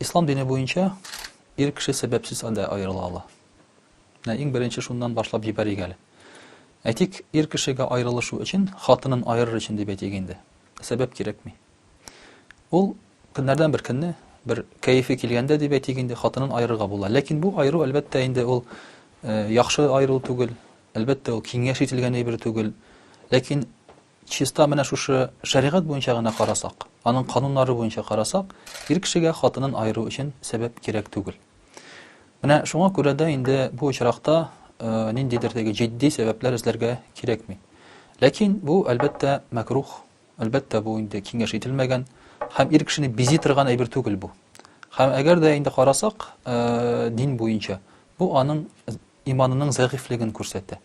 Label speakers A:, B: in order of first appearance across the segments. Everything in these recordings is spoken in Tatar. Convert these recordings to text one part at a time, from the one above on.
A: Ислам дине буенча ир кеше сәбәпсез дә аерыла ала. Менә иң беренче шуннан башлап җибәрик әле. Әйтик, ир кешегә аерылышу өчен, хатынын аерыр өчен дип әйтик инде, сәбәп кирәкми. Ул көннәрдән бер көнне, бер кәефе килгәндә дип әйтик инде, хатынын аерырга була. Ләкин бу аеру, әлбәттә, инде ул яхшы аерылу түгел, әлбәттә, ул киңәш ителгән әйбер түгел. Ләкин Чиста менә шушы шәригать буенча гына карасак, аның кануннары буенча карасак, ир кешегә хатынын аеру өчен сәбәп кирәк түгел. Менә шуңа күрә дә инде бу очракта ниндидер теге җитди сәбәпләр эзләргә кирәкми. Ләкин бу, әлбәттә, мәкрух, әлбәттә, бу инде киңәш ителмәгән һәм ир кешене бизи торган әйбер түгел бу. Һәм әгәр дә инде карасак, дин буенча, бу аның иманының зәгыйфьлеген күрсәтә.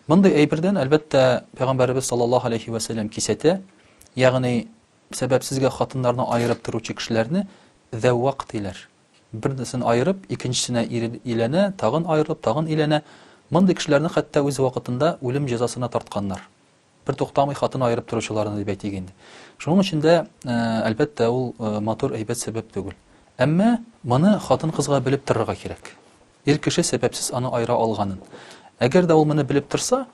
A: Мондый әйбердән, әлбәттә, пәйгамбәребез саллаллаһу алейһи ва сәлләм кисәтә, ягъни сәбәпсезгә хатыннарны аерып торучы кешеләрне зәввак диләр. Берсен аерып, икенчесенә иләнә, тагын аерылып, тагын иләнә. Мондый кешеләрне хәтта үз вакытында үлем җәзасына тартканнар. бертуктамый хатын аерып торучыларны дип әйтик инде. Шуның өчен дә, әлбәттә, ул матур, әйбәт сәбәп түгел. Әмма моны хатын-кызга белеп торырга кирәк. Ир кеше сәбәпсез аны аера алганын. Әгәр дә ул моны белеп торса,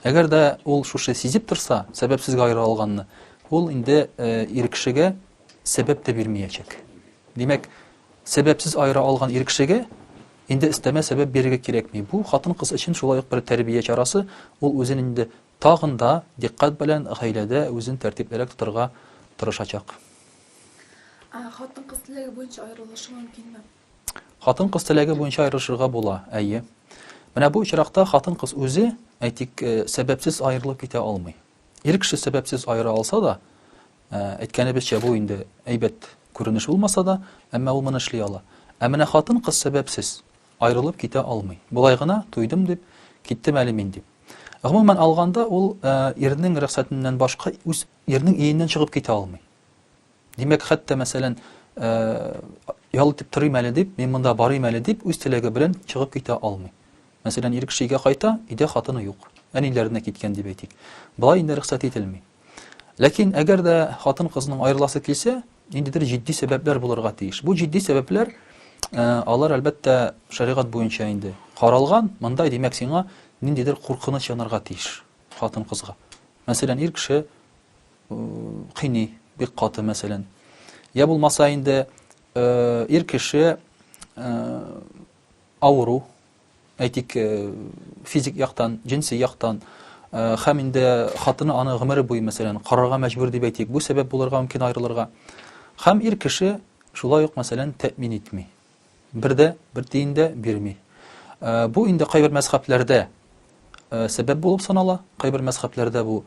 A: әгәр дә ул шушы сизеп торса, сәбәпсезгә аера алганны, ул инде ир кешегә Сәбәп тә бирмиячәк. Димәк, сәбәпсез аера алган ир кешегә инде өстәмә сәбәп бирергә кирәкми. Бу хатын-кыз өчен шулай ук бер тәрбия чарасы, ул үзен инде тагын да дикъкать белән гаиләдә үзен тәртиплерәк тотарга тырышачак. Ә
B: хатын-кыз теләге буенча аерылышу мөмкинме? Хатын-кыз
A: теләге буенча аерылышырга була, әйе. Менә бу очракта хатын-кыз үзе, әйтик, сәбәпсез аерылып китә алмый. Ир кеше сәбәпсез аера алса да, әйткәнебезчә, бу инде әйбәт күренеш булмаса да, әмма ул моны эшли ала. Ә менә хатын-кыз сәбәпсез аерылып китә алмый. Болай гына туйдым дип, киттем әле мин дип. Гомумән алганда, ул ирнең рөхсәтеннән башка үз ирнең иеннән чыгып китә алмый. Димәк, хәтта, мәсәлән, ял итеп торыйм әле дип, мин монда барыйм әле дип, үз теләге белән чыгып китә алмый. Мәсәлән, ир кеше өйгә кайта, өйдә хатыны юк. Әниләренә киткән дип әйтик. Болай инде рөхсәт ителми. Ләкин әгәр дә хатын-кызның аерыласы килсә, ниндидер җитди сәбәпләр булырга тиеш. Бу җитди сәбәпләр Э, алар әлбәттә шәригать буенча инде каралган мындай димәк сиңа ниндидер куркыныч янарга тиеш хатын кызга мәсәлән ир кеше кыйный бик каты мәсәлән я булмаса инде ир кеше авыру әйтик физик яктан җенси яктан һәм инде хатыны аны гомере буе мәсәлән карарга мәҗбүр дип әйтик бу сәбәп булырга мөмкин аерылырга һәм ир кеше шулай ук мәсәлән тәэмин итми Бер дә, бер тиен дә бирми. Э, бу инде кайбер мәзхәбләрдә э, сәбәп булып санала, кайбер мәзхәбләрдә бу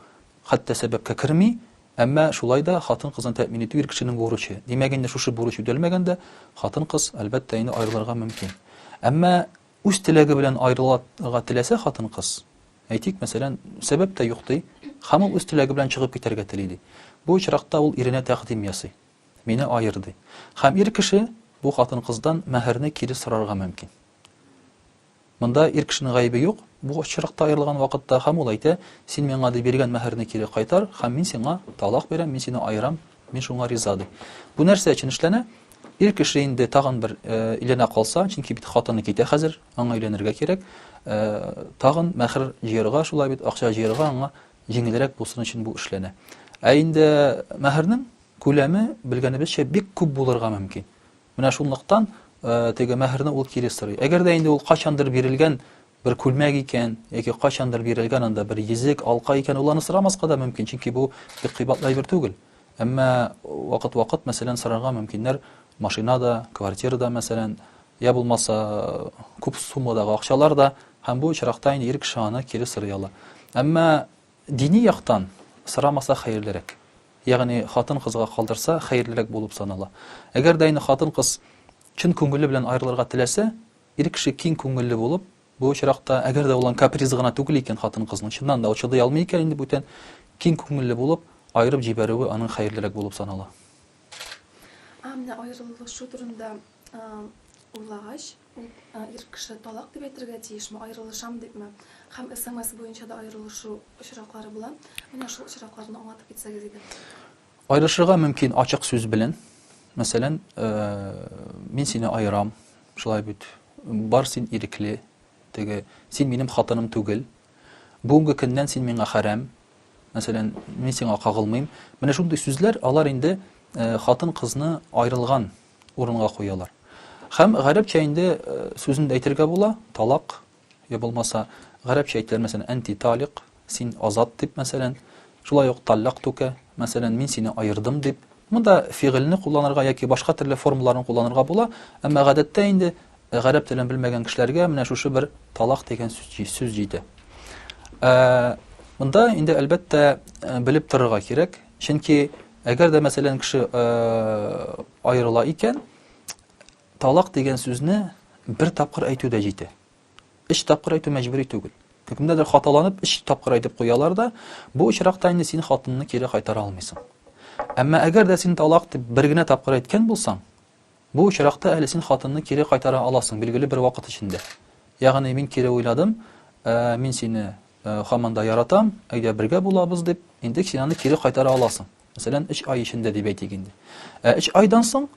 A: хәтта сәбәпкә керми, әмма шулай да хатын-кызны тәэмин итү ир кешенең бурычы. Димәк, инде шушы бурыч үтәлмәгәндә хатын-кыз, әлбәттә, инде аерылырга мөмкин. Әмма үз теләге белән аерылырга теләсә хатын-кыз, әйтик, мәсәлән, сәбәп тә юк ди, һәм ул үз теләге белән чыгып китәргә тели ди. Бу очракта ул иренә тәкъдим ясый. Мине аер, ди. Һәм ир кеше бу хатын-кыздан мәһәрне кире сорарга мөмкин. Монда ир кешенең гаебе юк, бу очракта аерылган вакытта, һәм ул әйтә, Син миңа, ди, биргән мәһәрне кире кайтар, һәм мин сиңа талак бирәм, мин сине аерам, мин шуңа риза, ди. Бу нәрсә өчен эшләнә? Ир кеше инде тагын бер өйләнә калса, чөнки бит хатыны китә хәзер, аңа өйләнергә кирәк, тагын мәһәр җыярга, шулай бит, акча җыярга аңа җиңелрәк булсын өчен бу эшләнә. Ә инде мәһәрнең күләме белгәнебезчә бик күп булырга мөмкин. Менә шунлыктан э, теге мәһәрне ул кире сорый. Әгәр дә инде ул качандыр бирелгән бер күлмәк икән, яки качандыр бирелгән анда бер йөзек, алка икән, ул аны сорамаска да мөмкин, чөнки бу бик кыйбатлы әйбер түгел. Әмма вакыт-вакыт, мәсәлән, сорарга мөмкиннәр машина да, квартира да, мәсәлән, Йә булмаса, күп суммадагы акчалар да, һәм бу очракта инде ир кеше аны кире сорый ала. Әмма дини яктан сорамаса хәерлерәк. Ягъни хатын-кызга калдырса хәерлерәк булып санала. Әгәр дә инде хатын-кыз чын күңеле белән аерылырга теләсә, ир кеше киң күңелле булып, бу очракта, әгәр дә ул аның капризы гына түгел икән хатын-кызның, чыннан да ул чыдый алмый икән инде бүтән, киң күңелле булып, аерып җибәрүе аның хәерлерәк булып санала.
B: А менә аерылышу турында Уйлагач, ул ир кеше талак дип әйтергә тиешме, аерылышам дипме? Һәм смс буенча да аерылышу очраклары була. Менә шул очракларны аңлатып китсәгез иде. Аерылышырга
A: мөмкин ачык сүз белән. Мәсәлән, мин сине аерам, шулай бит. Бар син ирекле, теге син минем хатыным түгел. Бүгенге көннән син миңа хәрәм. Мәсәлән, мин сиңа кагылмыйм. Менә шундый сүзләр, алар инде хатын-кызны аерылган урынга куялар. Һәм гарәпчә инде сүзен дә әйтергә була, талак, я булмаса, гарәпчә әйтелер, мәсәлән, әнти талик, син азат дип, мәсәлән, шулай ук таллак түкә, мәсәлән, мин сине аердым дип. Монда фигыльне кулланырга яки башка төрле формаларын кулланырга була, әмма гадәттә инде гарәп телен белмәгән кешеләргә менә шушы бер талак дигән сүз җитә. Монда инде, әлбәттә, белеп торырга кирәк, чөнки Әгәр дә, мәсәлән, кеше аерыла икән, талак дигән сүзне бер тапкыр әйтү дә җитә. Өч тапкыр әйтү мәҗбүри түгел. Кемнедер хаталанып, өч тапкыр әйтеп куялар да, бу очракта инде син хатынны кире кайтара алмыйсың. Әмма әгәр дә син талак дип бер генә тапкыр әйткән булсаң, Бу очракта әле син хатынны кире кайтара аласың билгеле бер вакыт эчендә. Ягъни мин кире уйладым, мин сине хаман да яратам, әйдә бергә булабыз дип, инде син аны кире кайтара аласың. Мәсәлән, өч ай эчендә дип әйтик инде. Ә өч айдан соң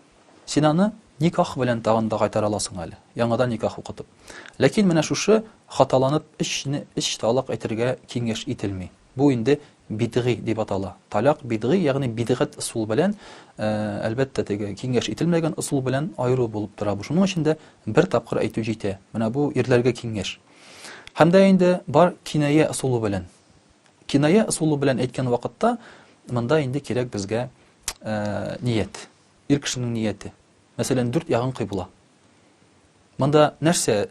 A: син аны никах белән тагын да кайтара аласың әле, яңадан никах укытып. Ләкин менә шушы хаталанып өчне өч талак әйтергә киңәш ителми. Бу инде бидгый дип атала. Таләк бидгый, ягъни бидгать ысул белән, әлбәттә, теге киңәш ителмәгән ысул белән аеру булып тора бу. Шуның өчен дә бер тапкыр әйтү җитә. Менә бу ирләргә киңәш. Һәм дә инде бар киная ысулы белән. Киная ысулы белән әйткән вакытта монда инде кирәк безгә ният. Ир кешенең нияте. Мәсәлән, дүрт ягын кыйбла. Монда нәрсә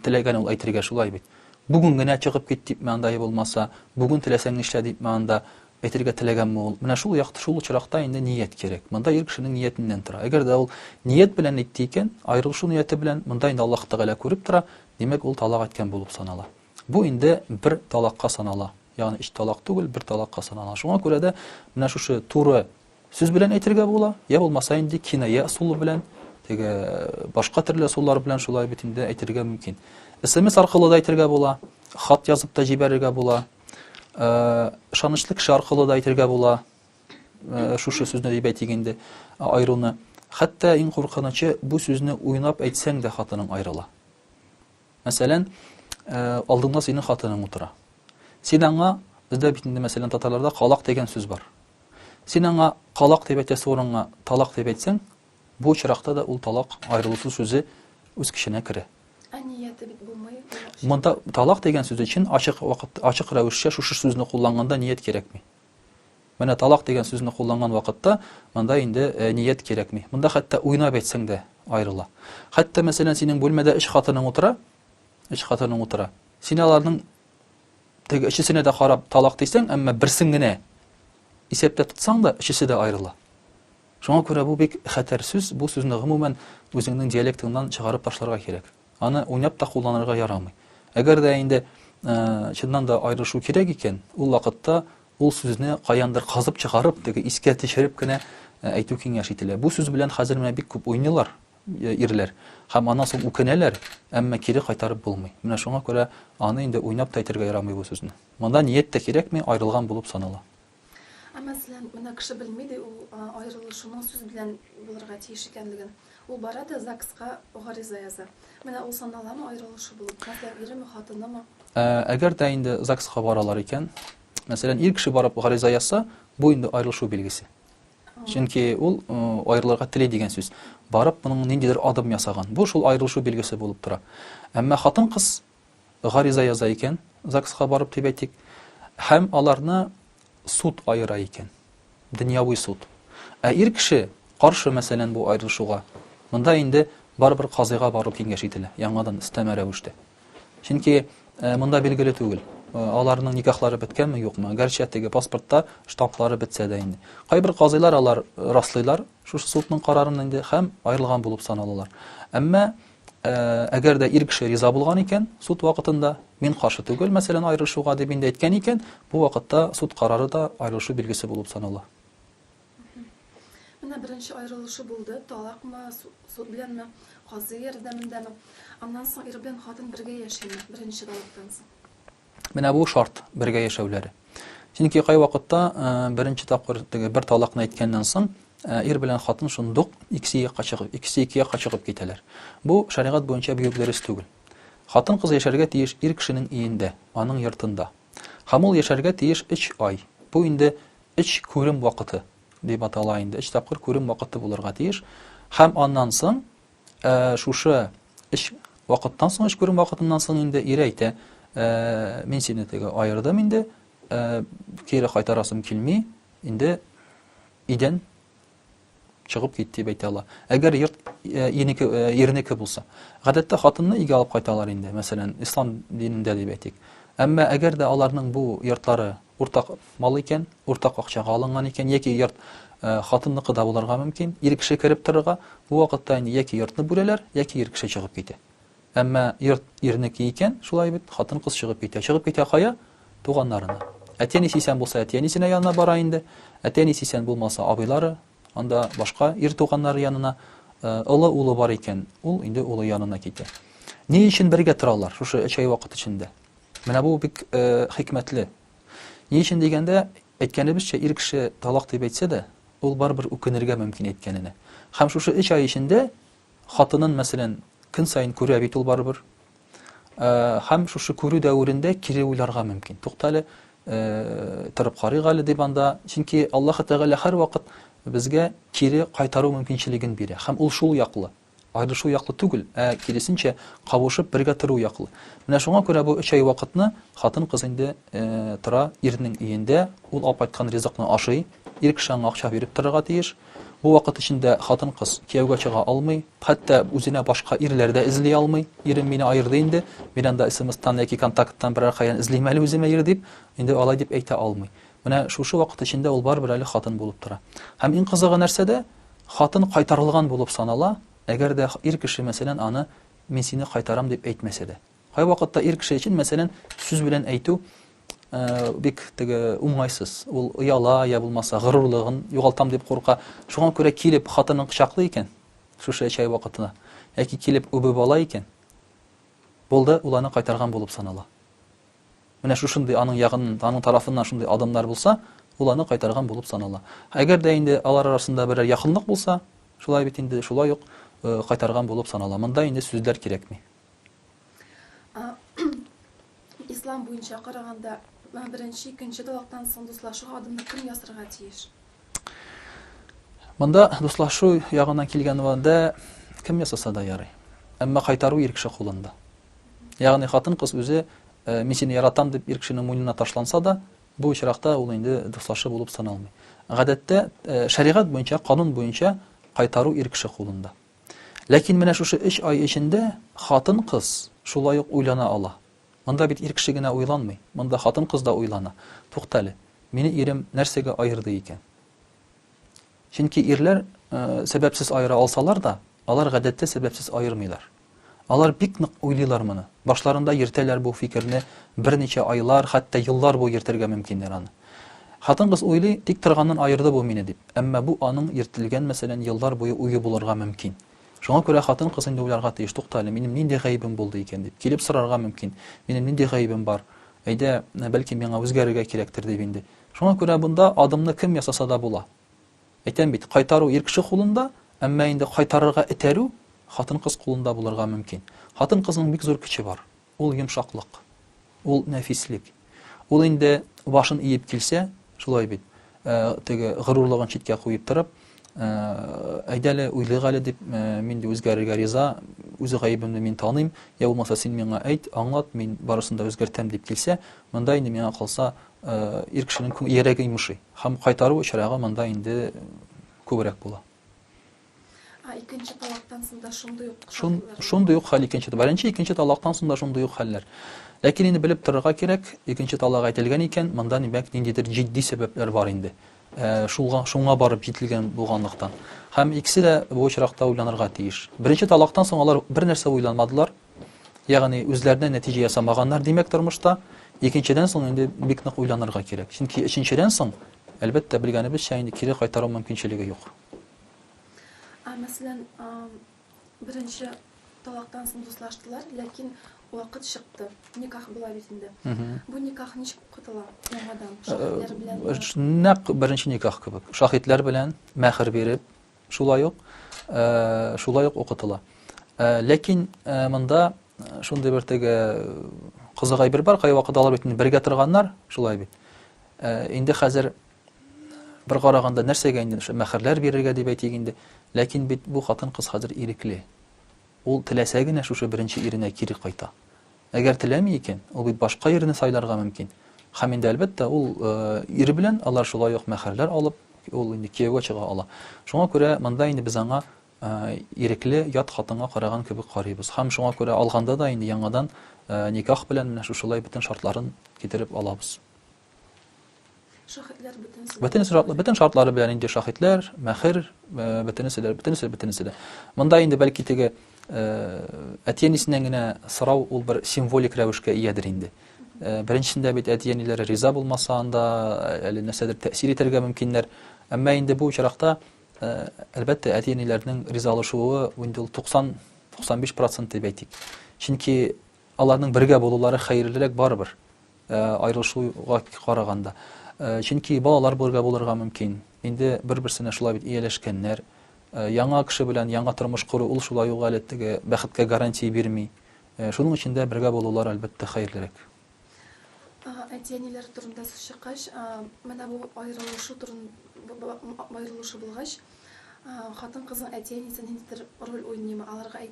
A: теләгән ул әйтергә шулай бит. Бүген генә чыгып кит дипме анда я булмаса, бүген теләсәң нишлә дипме анда әйтергә теләгәнме ул? Менә шул якты шул очракта инде ният кирәк. Монда ир кешенең ниятеннән тора. Әгәр дә ул ният белән әйтте икән, аерылышу нияте белән, монда инде Аллаһ Тәгалә күреп тора, димәк, ул талак әйткән булып санала. Бу инде бер талакка санала. Ягъни өч талак түгел, бер талакка санала. Шуңа күрә дә менә шушы туры Сүз белән әйтергә була, я булмаса инде киная ысулы белән, теге башка төрле ысуллар белән шулай бит инде әйтергә мөмкин. СМС аркылы да әйтергә була, хат язып та җибәрергә була, э, ышанычлы кеше аркылы да әйтергә була, э, шушы сүзне дип әйтик инде, айыруны. Хәтта иң куркынычы, бу сүзне уйнап әйтсәң дә хатының аерыла. Мәсәлән, алдыңда синең хатының утыра. Син аңа, бездә бит инде мәсәлән татарларда калак дигән сүз бар. Син аңа калак дип әйтәсе урынга талак дип әйтсәң, бу очракта да ул талак аерылышу сүзе үз көченә керә. Ә нияте бит
B: булмый. Монда талак
A: дигән сүз өчен ачык вакыт, ачык рәвешчә шушы сүзне кулланганда ният кирәкми. Менә талак дигән сүзне кулланган вакытта, монда инде ният кирәкми. Монда хәтта уйнап әйтсәң дә аерыла. Хәтта, мәсәлән, синең бүлмәдә өч хатының утыра, өч хатының утыра. Син аларның теге өчесенә дә карап талак дисәң, әмма берсен генә исәптә тотсаң да, өчесе дә аерыла. Шуңа күрә бу бик хәтәр сүз, бу сүзне гомумән үзеңнең диалектыңнан чыгарып ташларга кирәк. Аны уйнап та кулланырга ярамый. Әгәр дә инде чыннан да аерышу кирәк икән, ул вакытта ул сүзне каяндыр казып чыгарып, теге искә төшереп кенә әйтү киңәш ителә. Бу сүз белән хәзер менә бик күп уйныйлар ирләр һәм аннан соң үкенәләр, әмма кире кайтарып булмый. Менә шуңа күрә аны инде уйнап та әйтергә ярамый бу сүзне. Монда ният тә кирәкми, аерылган булып санала. Ә мәсәлән,
B: менә кеше белми ди ул аерылышуның сүз белән булырга тиеш икәнлеген. Ул бара да ЗАГСка гариза яза. Менә ул саналамы аерылышу булып? Мәсәлән, иреме, хатынымы? Әгәр дә
A: инде ЗАГСка баралар икән, мәсәлән, ир кеше барып гариза язса, бу инде аерылышу билгесе. Чөнки ул аерылырга тели дигән сүз. Барып, моның ниндидер адым ясаган. Бу шул аерылышу билгесе булып тора. Әмма хатын-кыз гариза яза икән, ЗАГСка барып дип әйтик, һәм аларны суд аера икән, дөньяви суд. Ә ир кеше каршы, мәсәлән, бу аерылышуга, монда инде барыбер казыйга бару киңәш ителә, яңадан өстәмә рәвештә. Чөнки э, монда билгеле түгел, э, аларның никахлары беткәнме, юкмы, гәрчә теге паспортта штамплары бетсә дә инде. Кайбер казыйлар алар э, раслыйлар шушы судның карарын инде һәм аерылган булып саналалар. Әмма әгәр дә ир кеше риза булган икән суд вакытында мин каршы түгел мәсәлән аерылышуга дип инде әйткән икән бу вакытта суд карары да аерылышу билгесе булып санала
B: менә беренче аерылышу булды талакмы суд беләнме казый ярдәмендәме аннан соң ир белән хатын бергә яшиме беренче талактан соң Менә бу
A: шарт бергә яшәүләре. Чөнки кайвакытта э, беренче тапкыр теге бер талакны әйткәннән соң э, ир белән хатын шундук икесе якка чыгып, икесе ике якка чыгып китәләр. Бу шәригать буенча бик үк дөрес түгел. Хатын кыз яшәргә тиеш ир кешенең иендә, аның йортында. Һәм ул яшәргә тиеш 3 ай. Бу инде 3 күрем вакыты дип атала инде. 3 тапкыр күрем вакыты булырга тиеш. Һәм аннан соң Ә шушы эш вакыттан соң, эш күрү вакытыннан соң инде ире әйтә, ә, мин сине теге аердым инде, ә, кире кайтарасым килми, инде идән чыгып кит дип әйтә ала. Әгәр йорт э, инеке э, ирнеке булса. Гадәттә хатынны өйгә алып кайталар инде, мәсәлән, ислам динендә дип әйтик. Әмма әгәр дә аларның бу йортлары Уртак мал икән, уртак акчага алынган икән, яки йорт хатынныкы да булырга мөмкин, ир кеше кереп торырга, бу вакытта инде яки йортны бүләләр, яки ир кеше чыгып китә. Әмма йорт ирнеке икән, шулай бит, хатын-кыз чыгып китә. Чыгып китә кая? Туганнарына. Әти-әнисе исән булса, әти-әнисенә янына бара инде. Әти-әнисе исән булмаса, абыйлары, анда башка ир туганнары янына. Олы улы бар икән, ул инде улы янына китә. Ни өчен бергә торалар шушы өч ай вакыт эчендә? Менә бу бик хикмәтле. Ни өчен дигәндә, әйткәнебезчә, ир кеше талак дип әйтсә дә, ул барыбер үкенергә мөмкин әйткәненә. Һәм шушы өч ай эчендә хатынын, мәсәлән, көн саен күрә бит ул барыбер. Һәм шушы күрү дәверендә кире уйларга мөмкин. Туктале, торып карыйк әле дип анда, чөнки Аллаһ Тәгалә һәрвакыт безгә кире кайтару мөмкинчелеген бирә. Һәм ул шул яклы. Аерылышу яклы түгел, ә, киресенчә, кавышып, бергә тору яклы. Менә шуңа күрә бу өч ай вакытны хатын-кыз инде тора ирнең өендә, ул алып кайткан ризыкны ашый, ир кеше аңа акча биреп торырга тиеш. Бу вакыт эчендә хатын-кыз кияүгә чыга алмый, хәтта үзенә башка ирләр дә эзли алмый. Ирем мине аерды инде, мин анда смстан яки контакттан берәр кайдан эзлим әле үземә ир дип, инде алай дип әйтә алмый. Менә шушы вакыт эчендә ул барыбер әле хатын булып тора. Һәм иң кызыгы нәрсәдә? Хатын кайтарылган булып санала, әгәр дә ир кеше, мәсәлән, аны Мин сине кайтарам дип әйтмәсә дә. Кайвакытта ир кеше өчен, мәсәлән, сүз белән әйтү бик теге уңайсыз. Ул ояла, я булмаса горурлыгын югалтам дип курка. Шуңа күрә килеп хатынын кочаклый икән, шушы чәй вакытына, яки килеп үбеп ала икән, булды, ул аны кайтарган булып санала. Менә шушындый аның ягыннан, аның тарафыннан шундый адымнар булса, ул аны кайтарган булып санала. Әгәр дә инде алар арасында берәр якынлык булса, шулай бит инде, шулай ук кайтарган булып санала. Монда инде сүзләр кирәкми.
B: Ислам буенча караганда, беренче, икенче талактан соң дуслашу адымны кем ясарга тиеш?
A: Монда дуслашу ягыннан килгән вәдә кем ясаса да ярый. Әмма кайтару ирекше кулында. Ягъни хатын-кыз үзе Мин сине яратам, дип ир кешенең муйнына ташланса да, бу очракта ул инде дуслашы булып саналмый. Гадәттә, шәригать буенча, канун буенча кайтару ир кеше кулында. Ләкин менә шушы өч ай эчендә хатын-кыз шулай ук уйлана ала. Монда бит ир кеше генә уйланмый, монда хатын-кыз да уйлана. Туктале, мине ирем нәрсәгә аерды икән? Чөнки ирләр э, сәбәпсез аера алсалар да, алар гадәттә сәбәпсез аермыйлар. Алар бик нык уйлыйлар моны. Башларында йөртәләр бу фикерне, берничә айлар, хәтта еллар буе йөртергә мөмкиннәр аны. Хатын-кыз уйлый, тик торганнан аерды бу мине дип. Әмма бу аның йөртелгән, мәсәлән, еллар буе уе булырга мөмкин. Шуңа күрә хатын-кыз инде уйларга тиеш, туктале, минем нинди гаебем булды икән дип, килеп сорарга мөмкин, минем нинди гаебем бар, әйдә, бәлки миңа үзгәрергә кирәктер дип инде. Шуңа күрә бунда адымны кем ясаса да була. Әйтәм бит, кайтару ир кеше кулында, әмма инде кайтарырга этәрү хатын-кыз кулында булырга мөмкин. Хатын-кызның бик зур көче бар, ул йомшаклык, ул нәфислек. Ул инде башын иеп килсә, шулай бит, э, теге горурлыгын читкә куеп торып, э, әйдәле, уйлыйк әле дип, э, мин дә үзгәрергә риза, үз гаебемне мин таныйм, я булмаса син миңа әйт, аңлат, мин барысын да үзгәртәм дип килсә, монда инде миңа калса, ир кешенең йөрәге йомышый. Һәм кайтару очрагы монда инде күбрәк була.
B: Ә икенче талактан соң да шундый ук Шун, шундый
A: ук хәл икенче беренче икенче талактан соң да шундый ук хәлләр. Ләкин инде белеп торырга кирәк, икенче талак әйтелгән икән, монда димәк ниндидер җитди сәбәпләр бар инде. Ә, шуңа, шуңа барып җителгән булганлыктан. Һәм икесе дә бу очракта уйланырга тиеш. Беренче талактан соң алар бер нәрсә уйламадылар, Ягъни үзләренә нәтиҗә ясамаганнар, димәк, тормышта. Икенчедән соң инде бик нык уйланырга кирәк. Чөнки өченчедән соң, әлбәттә, белгәнебезчә, инде кире кайтару мөмкинчелеге юк. Ә мәсәлән,
B: беренче талактан соң дуслаштылар, ләкин вакыт чыкты. Никах була бит инде. Бу никах ничек укытыла яңадан? Шаһитләр белән. Нәкъ беренче никах
A: кебек. Шаһитләр белән мәһр биреп, Шулай ук, шулай ук укытыла. Ләкин монда шундый бер теге кызык әйбер бар, кайвакыт алар бит бергә торганнар, шулай бит. Инде хәзер бер караганда нәрсәгә инде мәхәрләр бирергә дип әйтик инде. Ләкин бит бу хатын-кыз хәзер ирекле. Ул теләсә генә шушы беренче иренә кире кайта. Әгәр теләми икән, ул бит башка ирне сайларга мөмкин. Һәм инде, әлбәттә, ул ире белән, алар шулай ук мәһәрләр алып, ул инде кияүгә чыга ала. Шуңа күрә монда инде без аңа ирекле ят хатынга караган кебек карыйбыз. Һәм шуңа күрә алганда да инде яңадан никах белән менә шушылай бөтен шартларын китереп алабыз. Шахидләр
B: бөтенесе. Бөтенесе шартлы, бөтен
A: шартлары белән инде шахидләр, мәхер, э, бөтенесе дә, бөтенесе, бөтенесе дә. Монда инде бәлки теге э, әтиәнисеннән генә сорау ул бер символик рәвешкә иядер инде. Э, беренчесендә бит әтиәниләре риза булмаса анда э, әле нәрсәдер тәэсир итәргә мөмкиннәр. Әмма инде бу очракта э, әлбәттә әтиәниләрнең ризалашуы инде ул 90-95% дип әйтик. Чөнки аларның бергә булулары хәерлерәк барыбер. Э, аерылышуга караганда э, чөнки балалар бергә булырга мөмкин инде бер берсенә шулай бит ияләшкәннәр э, яңа кеше белән яңа тормыш кору ул шулай ук әле теге бәхеткә гарантия бирми шуның өчен дә бергә булулар әлбәттә хәерлерәк әти
B: әниләр турында сүз чыккач менә бу аерылышу турын аерылышу булгач хатын кызның әти әнисе ниндидер роль уйныймы аларга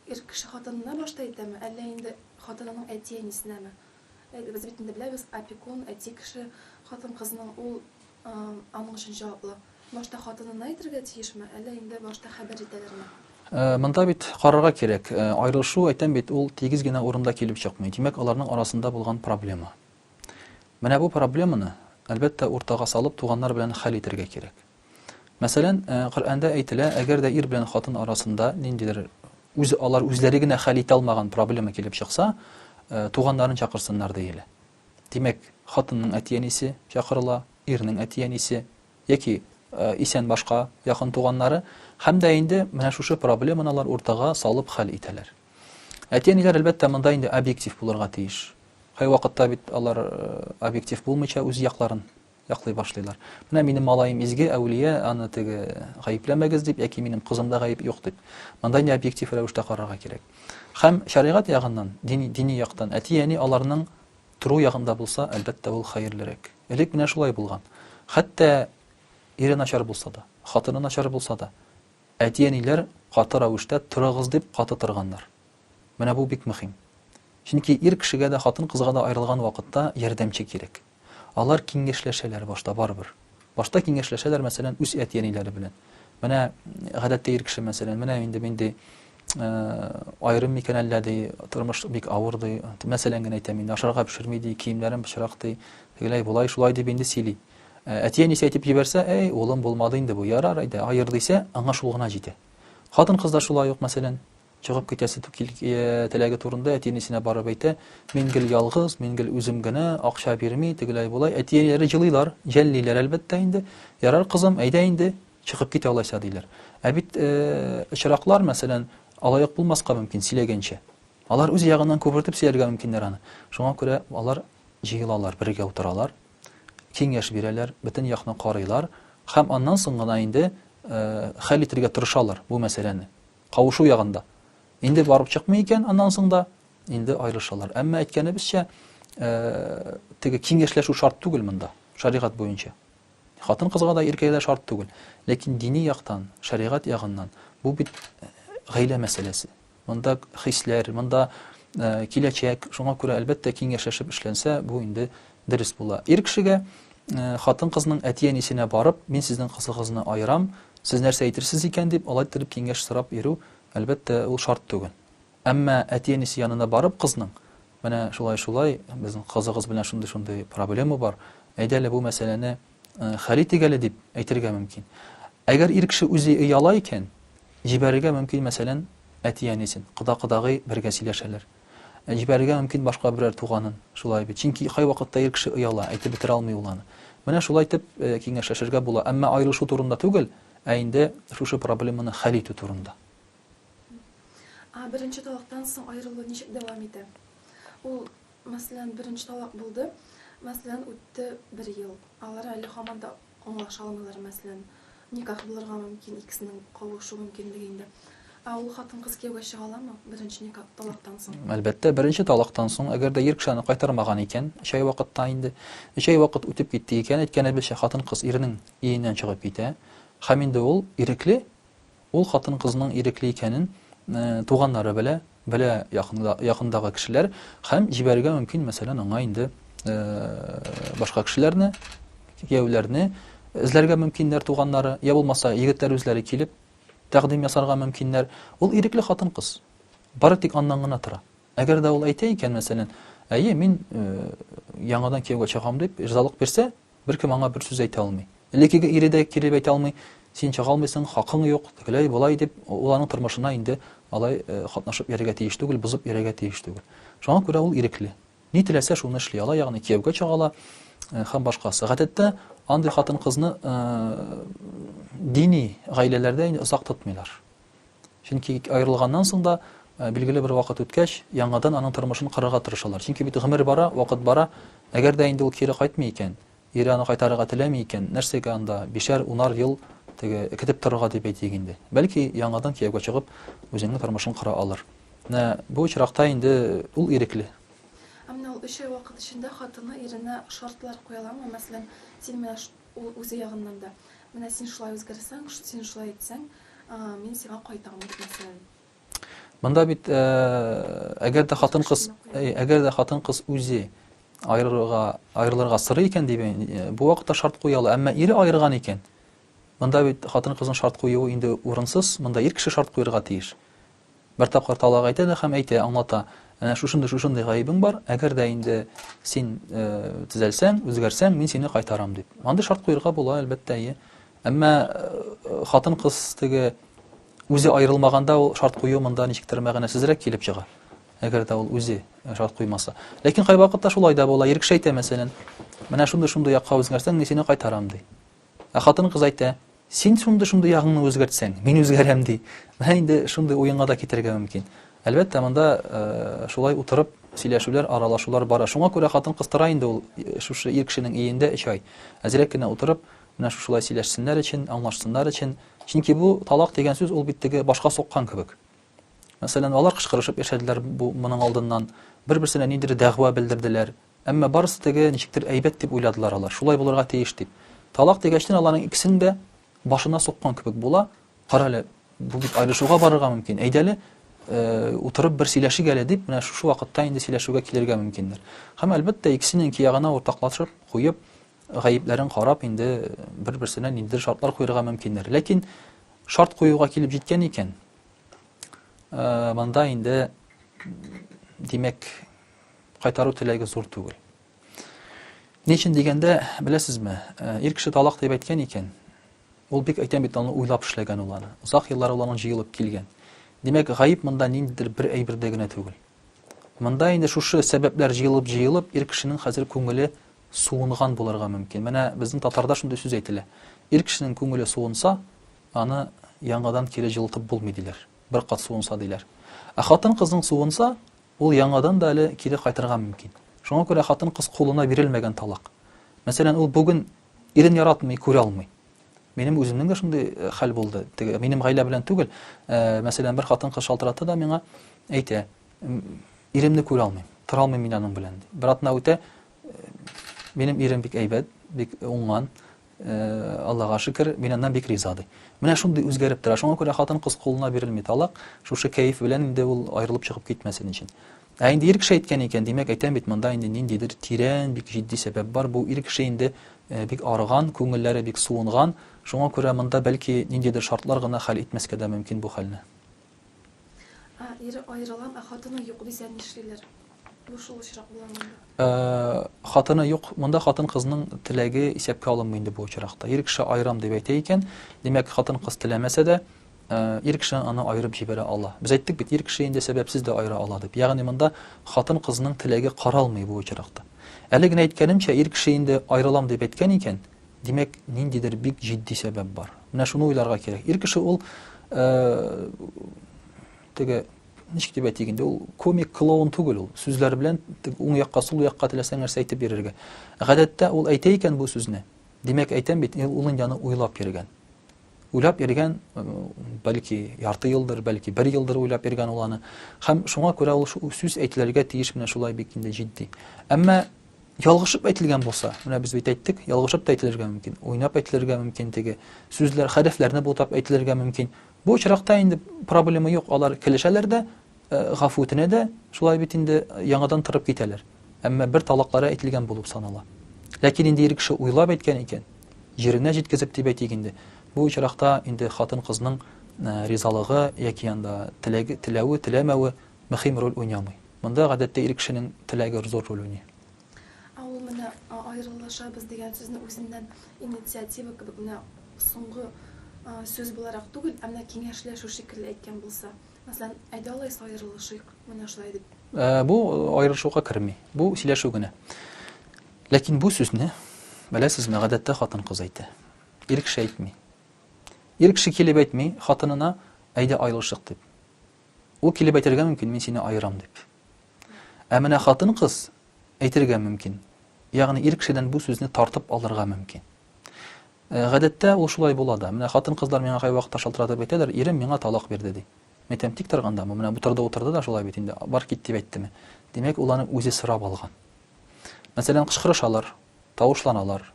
B: Ир кеше хатынына башта әйтәме, әллә инде хатынының әти-әнисенәме? Без бит инде беләбез, опекун, әти кеше, хатын-кызның, ул аның өчен җаваплы. Башта хатынына әйтергә тиешме, әллә инде башта хәбәр итәләрме? Монда бит карарга
A: кирәк. Аерылышу, әйтәм бит, ул тигез генә урында килеп чыкмый. Димәк, аларның арасында булган проблема. Менә бу проблеманы, әлбәттә, уртага салып, туганнар белән хәл итәргә кирәк. Мәсәлән, Коръәндә әйтелә, әгәр дә ир белән хатын арасында ниндидер үз алар үзләре генә хәл итә алмаган проблема килеп чыкса, туганнарын чакырсыннар диелә. Димәк, хатынның әти-әнисе чакырыла, ирнең әти-әнисе яки исән башка якын туганнары һәм дә инде менә шушы проблеманы алар уртага салып хәл итәләр. Әти-әниләр әлбәттә монда инде объектив булырга тиеш. Кайвакытта бит алар объектив булмыйча үз якларын яклый башлыйлар. Менә минем малаем изге, әүлия, аны теге гаепләмәгез дип, яки минем кызымда гаеп юк дип. Монда ни объектив рәвештә карарга кирәк. Хәм шәригать ягыннан, дини, дини яктан, әти әни аларның тору ягында булса, әлбәттә ул хәерлерәк. Элек менә шулай булган. Хәтта ире начар булса да, хатыны начар булса да, әти әниләр каты рәвештә торыгыз дип каты торганнар. Менә бу бик мөһим. Чөнки ир кешегә дә, хатын кызга да аерылган вакытта ярдәмче кирәк. Алар киңәшләшәләр башта, барыбер. Башта киңәшләшәләр, мәсәлән, үз әти-әниләре белән. Менә, гадәттә, ир кеше, мәсәлән, менә инде мин, ди, аерым микән әллә, ди, тормыш бик авыр, ди, мәсәлән генә әйтәм инде, ашарга пешерми, ди, киемнәрем пычрак, ди, тегеләй, болай, шулай дип инде сөйли. Әти-әнисе әйтеп җибәрсә, әй, улым, булмады инде бу, ярар, әйдә, аер, дисә, аңа шул гына җитә. Хатын-кыз да шулай ук, мәсәлән, Чыгып китәсе ту кил теләге турында әти-әнисенә барып әйтә. Мин гел ялгыз, мин гел үзем генә, акча бирми, тегеләй-болай. Әти-әниләре җылыйлар, җәллиләр, әлбәттә инде. Ярар, кызым, әйдә инде, чыгып кит алайса, диләр. Ә бит очраклар, мәсәлән, алай-ук булмаска мөмкин, сөйләгәнчә. Алар үз ягыннан күпертеп сөйләргә мөмкиннәр аны. Шуңа күрә алар җыелалар, бергә утыралар, киңәш бирәләр, бөтен якны карыйлар һәм аннан соң гына инде хәл итәргә тырышалар бу мәсьәләне. Кавышу ягында. Инде барып чыкмый икән, аннан соң да инде аерылышалар. Әмма әйткәнебезчә, теге киңәшләшү шарт түгел монда, шәригать буенча. Хатын кызга да иркәгә дә шарт түгел. Ләкин дини яктан, шәригать ягыннан бу бит гаилә мәсьәләсе. Монда хисләр, монда киләчәк, шуңа күрә әлбәттә киңәшләшеп эшләнсә, бу инде Дөрес була. Ир кешегә, хатын-кызның әти-әнисенә барып, мин сезнең кызыгызны аерам, сез нәрсә әйтерсез икән дип, алай иттереп киңәш сорап йөрү, әлбәттә, ул шарт түгел. Әмма әти-әнисе янына барып кызның, менә шулай-шулай, безнең кызыгыз белән шундый-шундый проблема бар, әйдә әле бу мәсьәләне хәл итик әле, дип әйтергә мөмкин. Әгәр ир кеше үзе ояла икән, җибәрергә мөмкин, мәсәлән, әти-әнисен, кода-кодагый бергә сөйләшәләр. Ә җибәрергә мөмкин башка берәр туганын. Шулай бит. Чөнки кайвакытта ир кеше ояла, әйтеп бетерә алмый ул аны. Менә шулай итеп киңәшләшергә була, әмма аерылышу турында түгел, ә инде шушы проблеманы хәл итү турында. Ә
B: беренче талактан соң аерылу ничек дәвам итә? Ул, мәсәлән, беренче талак булды, мәсәлән, үтте бер ел, алар әле һаман да Аңлаша алмыйлар, мәсәлән, никах булырга мөмкин, икесенең кавышу мөмкинлеге инде. Ә ул хатын-кыз кияүгә чыга аламы беренче никах талактан соң? Әлбәттә, беренче талактан
A: соң, әгәр дә ир кеше аны кайтармаган икән, өч ай вакытта инде. Өч ай вакыт үтеп китте икән, әйткәнебезчә, хатын-кыз иренең өеннән чыгып китә. Һәм инде ул ирекле, ул хатын-кызның ирекле икәнен туганнары белә, белә якындагы кешеләр һәм җибәрергә мөмкин, мәсәлән, аңа инде башка кешеләрне, кияүләрне эзләргә мөмкиннәр туганнары, я булмаса, егетләр үзләре килеп тәкъдим ясарга мөмкиннәр. Ул ирекле хатын-кыз. Бары тик аннан гына тора. Әгәр дә ул әйтә икән, мәсәлән, әйе, мин яңадан кияүгә чыгам дип ризалык бирсә, Беркем аңа бер сүз әйтә алмый. Элеккеге ире дә кире әйтә алмый, син чыга алмыйсың, хакың юк, тегеләй, болай дип, ул аның тормышына инде алай катнашып йөрергә тиеш түгел, бозып йөрергә тиеш түгел. Шуңа күрә ул ирекле. Ни теләсә, шуны эшли ала, ягъни кияүгә чыга ала һәм башкасы. Гадәттә, андый хатын-кызны дини гаиләләрдә инде озак тотмыйлар. Чөнки аерылганнан соң да, э, билгеле бер вакыт үткәч, яңадан аның тормышын корырга тырышалар. Чөнки бит гомер бара, вакыт бара. Әгәр дә инде ул кире кайтмый икән, ире аны кайтарырга теләми икән, нәрсәгә анда бишәр, унар ел теге экетеп торырга дип әйтик инде. Бәлки яңадан кияүгә чыгып, үзенең тормышын кора алыр. Менә бу очракта инде ул ирекле. Ә менә ул
B: өч ай вакыт эчендә хатыны иренә шартлар куя аламы? Мәсәлән, син менә Ул үзе ягыннан да, Менә син шулай үзгәрсәң, син шулай итсәң, мин сиңа кайтам, дип, мәсәлән. Монда
A: бит, әгәр дә хатын-кыз, әгәр дә хатын-кыз үзе аерырга, аерылырга сорый икән, дип, бу вакытта шарт куя ала. Әмма ире аерган икән, монда бит хатын-кызның шарт куюы инде урынсыз, монда ир кеше шарт куярга тиеш. Бер тапкыр талак әйтә дә һәм әйтә, аңлата. Әнә шушындый, шушындый гаебең бар, әгәр дә инде син төзәлсәң, үзгәрсәң, мин сине кайтарам дип. Андый шарт куерга була, әлбәттә, әйе. Әмма хатын-кыз теге үзе аерылмаганда ул шарт кую монда ничектер мәгънәсезрәк килеп чыга. Әгәр дә ул үзе шарт куймаса. Ләкин кайвакытта шулай да була, ирекшәйтә, мәсәлән, менә шундый-шундый якка үзгәрсәң, мин сине кайтарам, ди. Ә хатын-кыз әйтә, Син шундый шундый ягыңны үзгәртсәң, мин үзгәрәм, ди. Менә инде шундый уенга да китерергә мөмкин. Әлбәттә, монда шулай утырып сөйләшүләр, аралашулар бара. Шуңа күрә хатын-кыз тора инде ул шушы ир кешенең өендә 3 ай. Әзрәк кенә утырып, менә шушылай сөйләшсеннәр өчен, аңлашсыннар өчен. Чөнки бу талак дигән сүз ул бит теге башка суккан кебек. Мәсәлән, алар кычкырышып яшәделәр бу моның алдыннан, бер-берсенә ниндидер дәгъва белдерделәр, Әмма барысы теге, ничектер, әйбәт дип уйладылар алар, шулай булырга тиеш дип. Талак дигәчтен аларның икесен дә башына суккан кебек була, кара әле, бу бит аерышуга барырга мөмкин, әйдәле, утырып бер сөйләшик әле дип, менә шушы вакытта инде сөйләшүгә килергә мөмкиннәр. Һәм, әлбәттә, икесенең киягына уртаклашып, куеп, гаепләрен карап, инде бер-берсенә ниндидер шартлар куерга мөмкиннәр. Ләкин шарт куюга килеп җиткән икән, монда инде, димәк, кайтару теләге зур түгел. Ни өчен дигәндә, беләсезме, э, ир кеше талак дип әйткән икән, ул бик әйтәм бит аны уйлап эшләгән ул аны. Озак еллар ул аның җыелып килгән. Димәк, гаеп монда ниндидер бер әйбердә генә түгел. Монда инде шушы сәбәпләр җыелып җыелып ир кешенең хәзер күңеле суынган булырга мөмкин. Менә безнең татарда шундый сүз әйтелә. Ир кешенең күңеле суынса, аны яңадан кире җылытып булмый диләр. Бер кат суынса диләр. Ә хатын кызның суынса, Ул яңадан да әле кире кайтырга мөмкин. Шуңа күрә хатын-кыз кулына бирелмәгән талак. Мәсәлән, ул бүген ирен яратмый, күрә алмый. Минем үземнең дә шундый э, хәл булды. Теге минем гаилә белән түгел. Э, мәсәлән, бер хатын-кыз шалтыратты да миңа әйтә, иремне күрә алмыйм, тора алмыйм мин аның белән. Бер атна үтә, э, минем ирем бик әйбәт, бик уңган, Аллага шөкер, мин аннан бик риза, ди. Менә шундый үзгәреп тора. Шуңа күрә хатын-кыз кулына бирелми талак, шушы кәеф белән инде ул аерылып чыгып китмәсен өчен. Ә инде ир кеше әйткән икән, димәк, әйтәм бит, монда инде ниндидер тирән, бик җитди сәбәп бар. Бу ир кеше инде бик арыган, күңелләре бик суынган. Шуңа күрә монда, бәлки, ниндидер шартлар гына хәл итмәскә дә мөмкин бу хәлне.
B: Ә ире аерылам,
A: ә
B: хатыны юк дисә
A: нишлиләр?
B: Бу шул очрак була монда. Э, хатыны юк,
A: монда хатын кызның теләге исәпкә алынмый инде бу очракта. Ир кеше аерам дип әйтә икән, димәк, хатын кыз теләмәсә дә, Э, ир кеше аны аерып җибәрә ала. Без әйттек бит, ир кеше инде сәбәпсез дә аера ала дип. Ягъни монда хатын кызның теләге каралмый бу очракта. Әле генә әйткәнемчә, ир кеше инде аерылам дип әйткән икән, Димәк, ниндидер бик җитди сәбәп бар. Менә шуны уйларга кирәк. Ир кеше ул э, теге ничек дип әйтик инде, ул комик клоун түгел ул. Сүзләр белән уң якка, сул якка теләсәң нәрсә әйтеп бирергә. Гадәттә ул әйтә икән бу сүзне. Димәк, әйтәм бит, ул инде аны уйлап йөргән. уйлап йөргән, бәлки ярты елдыр, бәлки бер елдыр уйлап йөргән ул аны. Һәм шуңа күрә ул сүз әйтелергә тиеш менә шулай бик инде җитди. Әмма ялгышып әйтелгән булса, менә без бит әйттек, ялгышып та әйтелергә мөмкин, уйнап әйтелергә мөмкин теге сүзләр, хәрефләрне бутап әйтелергә мөмкин. Бу очракта инде проблема юк, алар килешәләр дә, Гафу үтенә дә, шулай бит инде, яңадан торып китәләр. Әмма бер талаклары әйтелгән булып санала. Ләкин инде ир кеше уйлап әйткән икән, җиренә җиткезеп дип әйтик инде, бу очракта инде хатын-кызның ризалыгы яки анда теләге, теләве, теләмәве мөһим роль уйнамый. Монда, гадәттә, ир кешенең теләге зур роль уйный. Ә ул
B: менә аерылышабыз дигән сүзне үзеннән инициатива кебек менә соңгы сүз буларак түгел, ә менә киңәшләшү шикелле әйткән булса, Мәсәлән, әйдә алайса аерылышыйк, менә шулай дип. Ә, бу
A: аерылышуга керми. Бу сөйләшү генә. Ләкин бу сүзне, беләсезме, гадәттә хатын-кыз әйтә. Ир кеше әйтми. Ир кеше килеп әйтми хатынына, әйдә аерылышык дип. Ул килеп әйтергә мөмкин, мин сине аерам дип. Ә менә хатын-кыз әйтергә мөмкин. Ягъни ир кешедән бу сүзне тартып алырга мөмкин. Э, гадәттә ул шулай була да. Менә хатын-кызлар миңа кайвакытта шалтыратып әйтәләр, ирем миңа талак бирде, ди. Мин әйтәм, тик торганда, бу менә утырды-утырды да шулай бит инде, бар кит дип әйттеме. Димәк, ул аны үзе сорап алган. Мәсәлән, кычкырышалар, тавышланалар,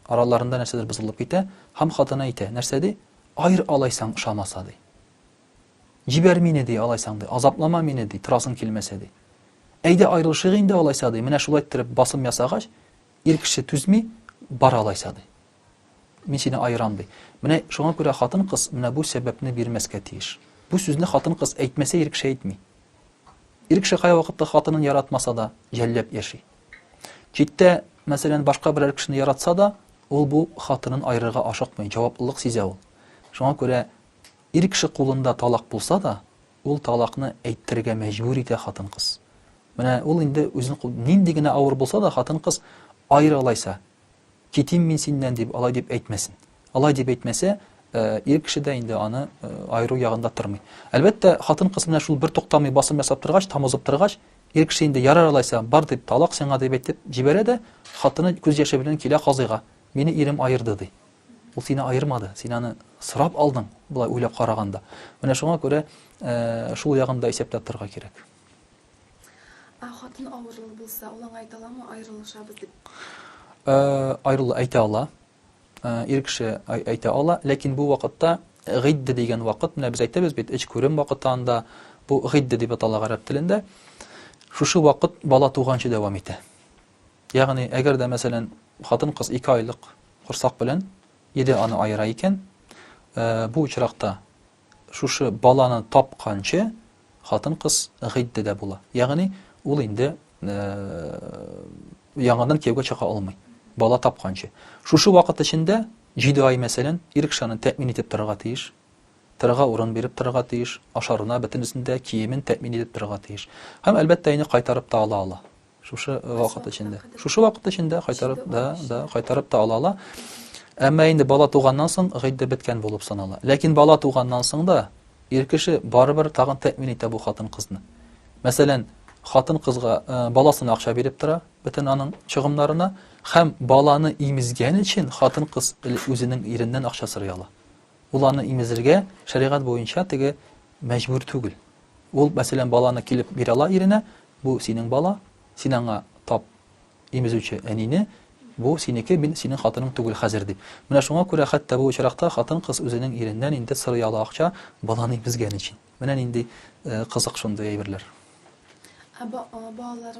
A: араларында нәрсәдер бозылып китә, һәм хатыны әйтә, нәрсә ди? Айр алайсаң ошамаса, ди. Җибәр мине, ди, алайсаң, ди, азаплама мине, ди, торасың килмәсә, ди. Әйдә аерылышыйк инде алайса, ди, менә шулай иттереп басым ясагач, Ир кеше түзми, Бар алайса, ди. Мин сине аерам, ди. Менә шуңа күрә хатын-кыз менә бу сәбәпне бирмәскә тиеш. Бу сүзне хатын-кыз әйтмәсә, ир кеше әйтми. Ир кеше кая вакытта хатынын яратмаса да, җәлләп яши. Читтә, мәсәлән, башка берәр кешене яратса да, ул бу хатынын аерырга ашыкмый, җаваплылык сизә ул. Шуңа күрә ир кеше кулында талак булса да, Ул талакны әйттерергә мәҗбүр итә хатын-кыз. Менә ул инде үзен кул, нинди генә авыр булса да, хатын-кыз, Аеры алайса, китим мин синнән, дип, алай дип әйтмәсен. Алай дип әйтмәсә, ир кеше дә инде аны аеру ягында тормый. Әлбәттә, хатын-кыз менә шул бертуктамый басым ясап торгач, тамызып торгач, ир кеше инде ярар алайса, бар дип, талак сиңа дип әйтеп җибәрә дә, хатыны күз яше белән килә казыйга, Мине ирем аерды, ди. Ул сине аермады, син аны сорап алдың, болай уйлап караганда. Менә шуңа күрә шул ягын да исәптә тотарга кирәк. Ә хатын
B: авырлы булса, ул аңа әйтә аламы, аерылышабыз дип?
A: Аерылу әйтә ала. Ир кеше әйтә ала, ләкин бу вакытта гыйдде дигән вакыт, менә без әйтәбез бит, эч күрем вакыты анда, бу гыйдде дип атала гарәп телендә. Шушы вакыт бала туганчы дәвам итә. Ягъни, әгәр дә, мәсәлән, хатын-кыз ике айлык корсак белән иде аны аера икән, бу очракта шушы баланы тапканчы хатын-кыз гыйддәдә була. Ягъни, ул инде яңадан кияүгә чыга алмый, бала тапканчы. Шушы вакыт эчендә 7 ай, мәсәлән, ир кеше аны тәэмин итеп торырга тиеш, торырга урын биреп торырга тиеш, ашарына бөтенесен дә, киемен тәэмин итеп торырга тиеш. Һәм, әлбәттә, аны кайтарып та ала ала. Шушы вакыт эчендә. Шушы вакыт эчендә кайтарып да, да кайтарып та ала ала. Әмма инде бала туганнан соң гыйддә беткән булып санала. Ләкин бала туганнан соң да ир кеше барыбер тагын тәэмин итә бу хатын-кызны. Мәсәлән, хатын-кызга э, баласына акча биреп тора, бөтен аның чыгымнарына һәм баланы имезгән өчен хатын-кыз үзенең иреннән акча сорый ала. Ул аны имезергә шәригать буенча теге мәҗбүр түгел. Ул, мәсәлән, баланы килеп бирә ала иренә, Бу синең бала, син аңа тап, имезүче әнине, бу синеке, мин синең хатының түгел хәзер, дип. Менә шуңа күрә хәтта бу очракта хатын-кыз үзенең иреннән инде сорый ала акча, баланы имезгән өчен. Менә нинди кызык шундый әйберләр. Ә балалар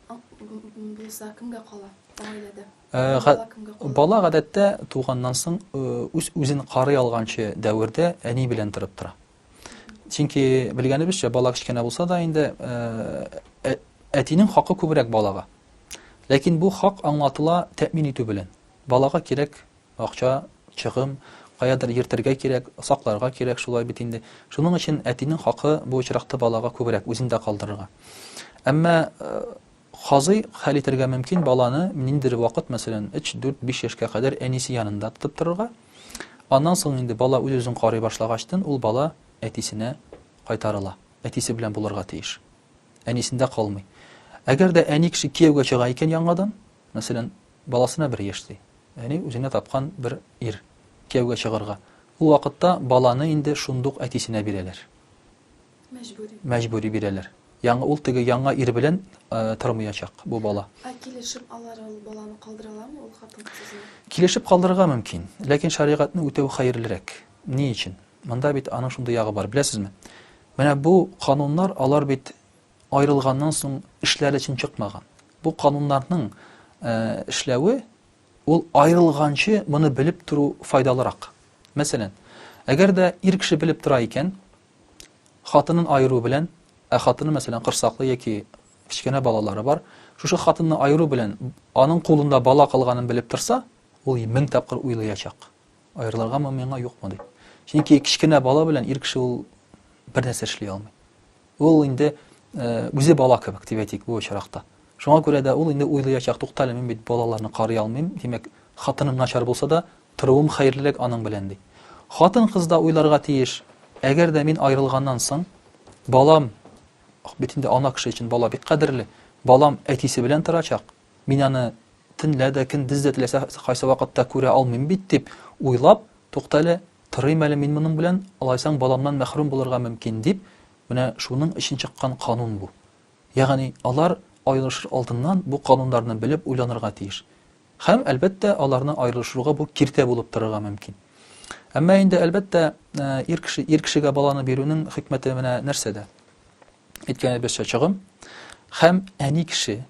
B: булса, кемгә кала гаиләдә? Бала кемгә кала? Бала
A: гадәттә туганнан соң үз-үзен карый алганчы дәвердә әни белән торып тора. чөнки белгәнебезчә бала кечкенә булса да инде ә, әтинең хакы күбрәк балага ләкин бу хак аңлатыла тәэмин итү белән балага кирәк акча чыгым каядыр йөртергә кирәк сакларга кирәк шулай бит инде шуның өчен әтинең хакы бу очракта балага күбрәк үзендә калдырырга әмма Казый, хәл итәргә мөмкин, баланы ниндидер вакыт, мәсәлән, өч, дүрт, биш яшькә кадәр әнисе янында тотып торырга. Аннан соң инде бала үз-үзен карый башлагачтын ул бала әтисенә кайтарыла. Әтисе белән булырга тиеш. Әнисендә калмый. Әгәр дә әни кеше кияүгә чыга икән яңадан, мәсәлән, баласына бер яшь ди. Яни үзенә тапкан бер ир кияүгә чыгарга. Ул вакытта баланы инде шундук әтисенә бирәләр. Мәҗбүри. Мәҗбүри бирәләр. Яңа ул теге яңа ир белән тормыячак бу бала. Ә килешеп алар
B: ул баланы калдыраламы ул хатын кызны? Килешеп калдырырга
A: мөмкин, ләкин шәригатьне үтәү хәерлерәк. Ни өчен? Монда бит аның шундый ягы бар, беләсезме? Менә бу кануннар, алар бит аерылганнан соң эшләре өчен чыкмаган. Бу кануннарның э, эшләве ул аерылганчы моны белеп тору файдалырак. Мәсәлән, әгәр дә ир кеше белеп тора икән, Хатынын аеру белән, ә хатыны, мәсәлән, корсаклы яки кечкенә балалары бар, шушы хатынны аеру белән аның кулында бала калганын белеп торса, ул мең тапкыр уйлыячак. Аерылыргамы миңа, юкмы дип. Чөнки кечкенә бала белән ир кеше ул бер нәрсә эшли алмый. Ул инде үзе бала кебек, дип әйтик, бу очракта. Шуңа күрә дә ул инде уйлыячак, туктале, мин бит балаларны карый алмыйм, димәк, хатыным начар булса да, Торуым хәерлерәк аның белән, ди. Хатын-кыз да уйларга тиеш, әгәр дә мин аерылганнан соң, балам, бит инде ана кеше өчен бала бик кадерле, балам әтисе белән торачак, мин аны төнлә дә, көндез дә теләсә кайсы вакытта күрә алмыйм бит, дип уйлап, туктале, торыйм әле мин моның белән, алайсаң баламнан мәхрүм булырга мөмкин, дип, менә шуның өчен чыккан канун бу. Ягъни алар аерылышыр алдыннан бу кануннарны белеп уйланырга тиеш. Һәм, әлбәттә, аларны аерылышыруга бу киртә булып торырга мөмкин. Әмма инде, әлбәттә, ир кеше, ир кешегә баланы бирүнең хикмәте менә нәрсәдә? Әйткәнебезчә, чыгым һәм әни кеше,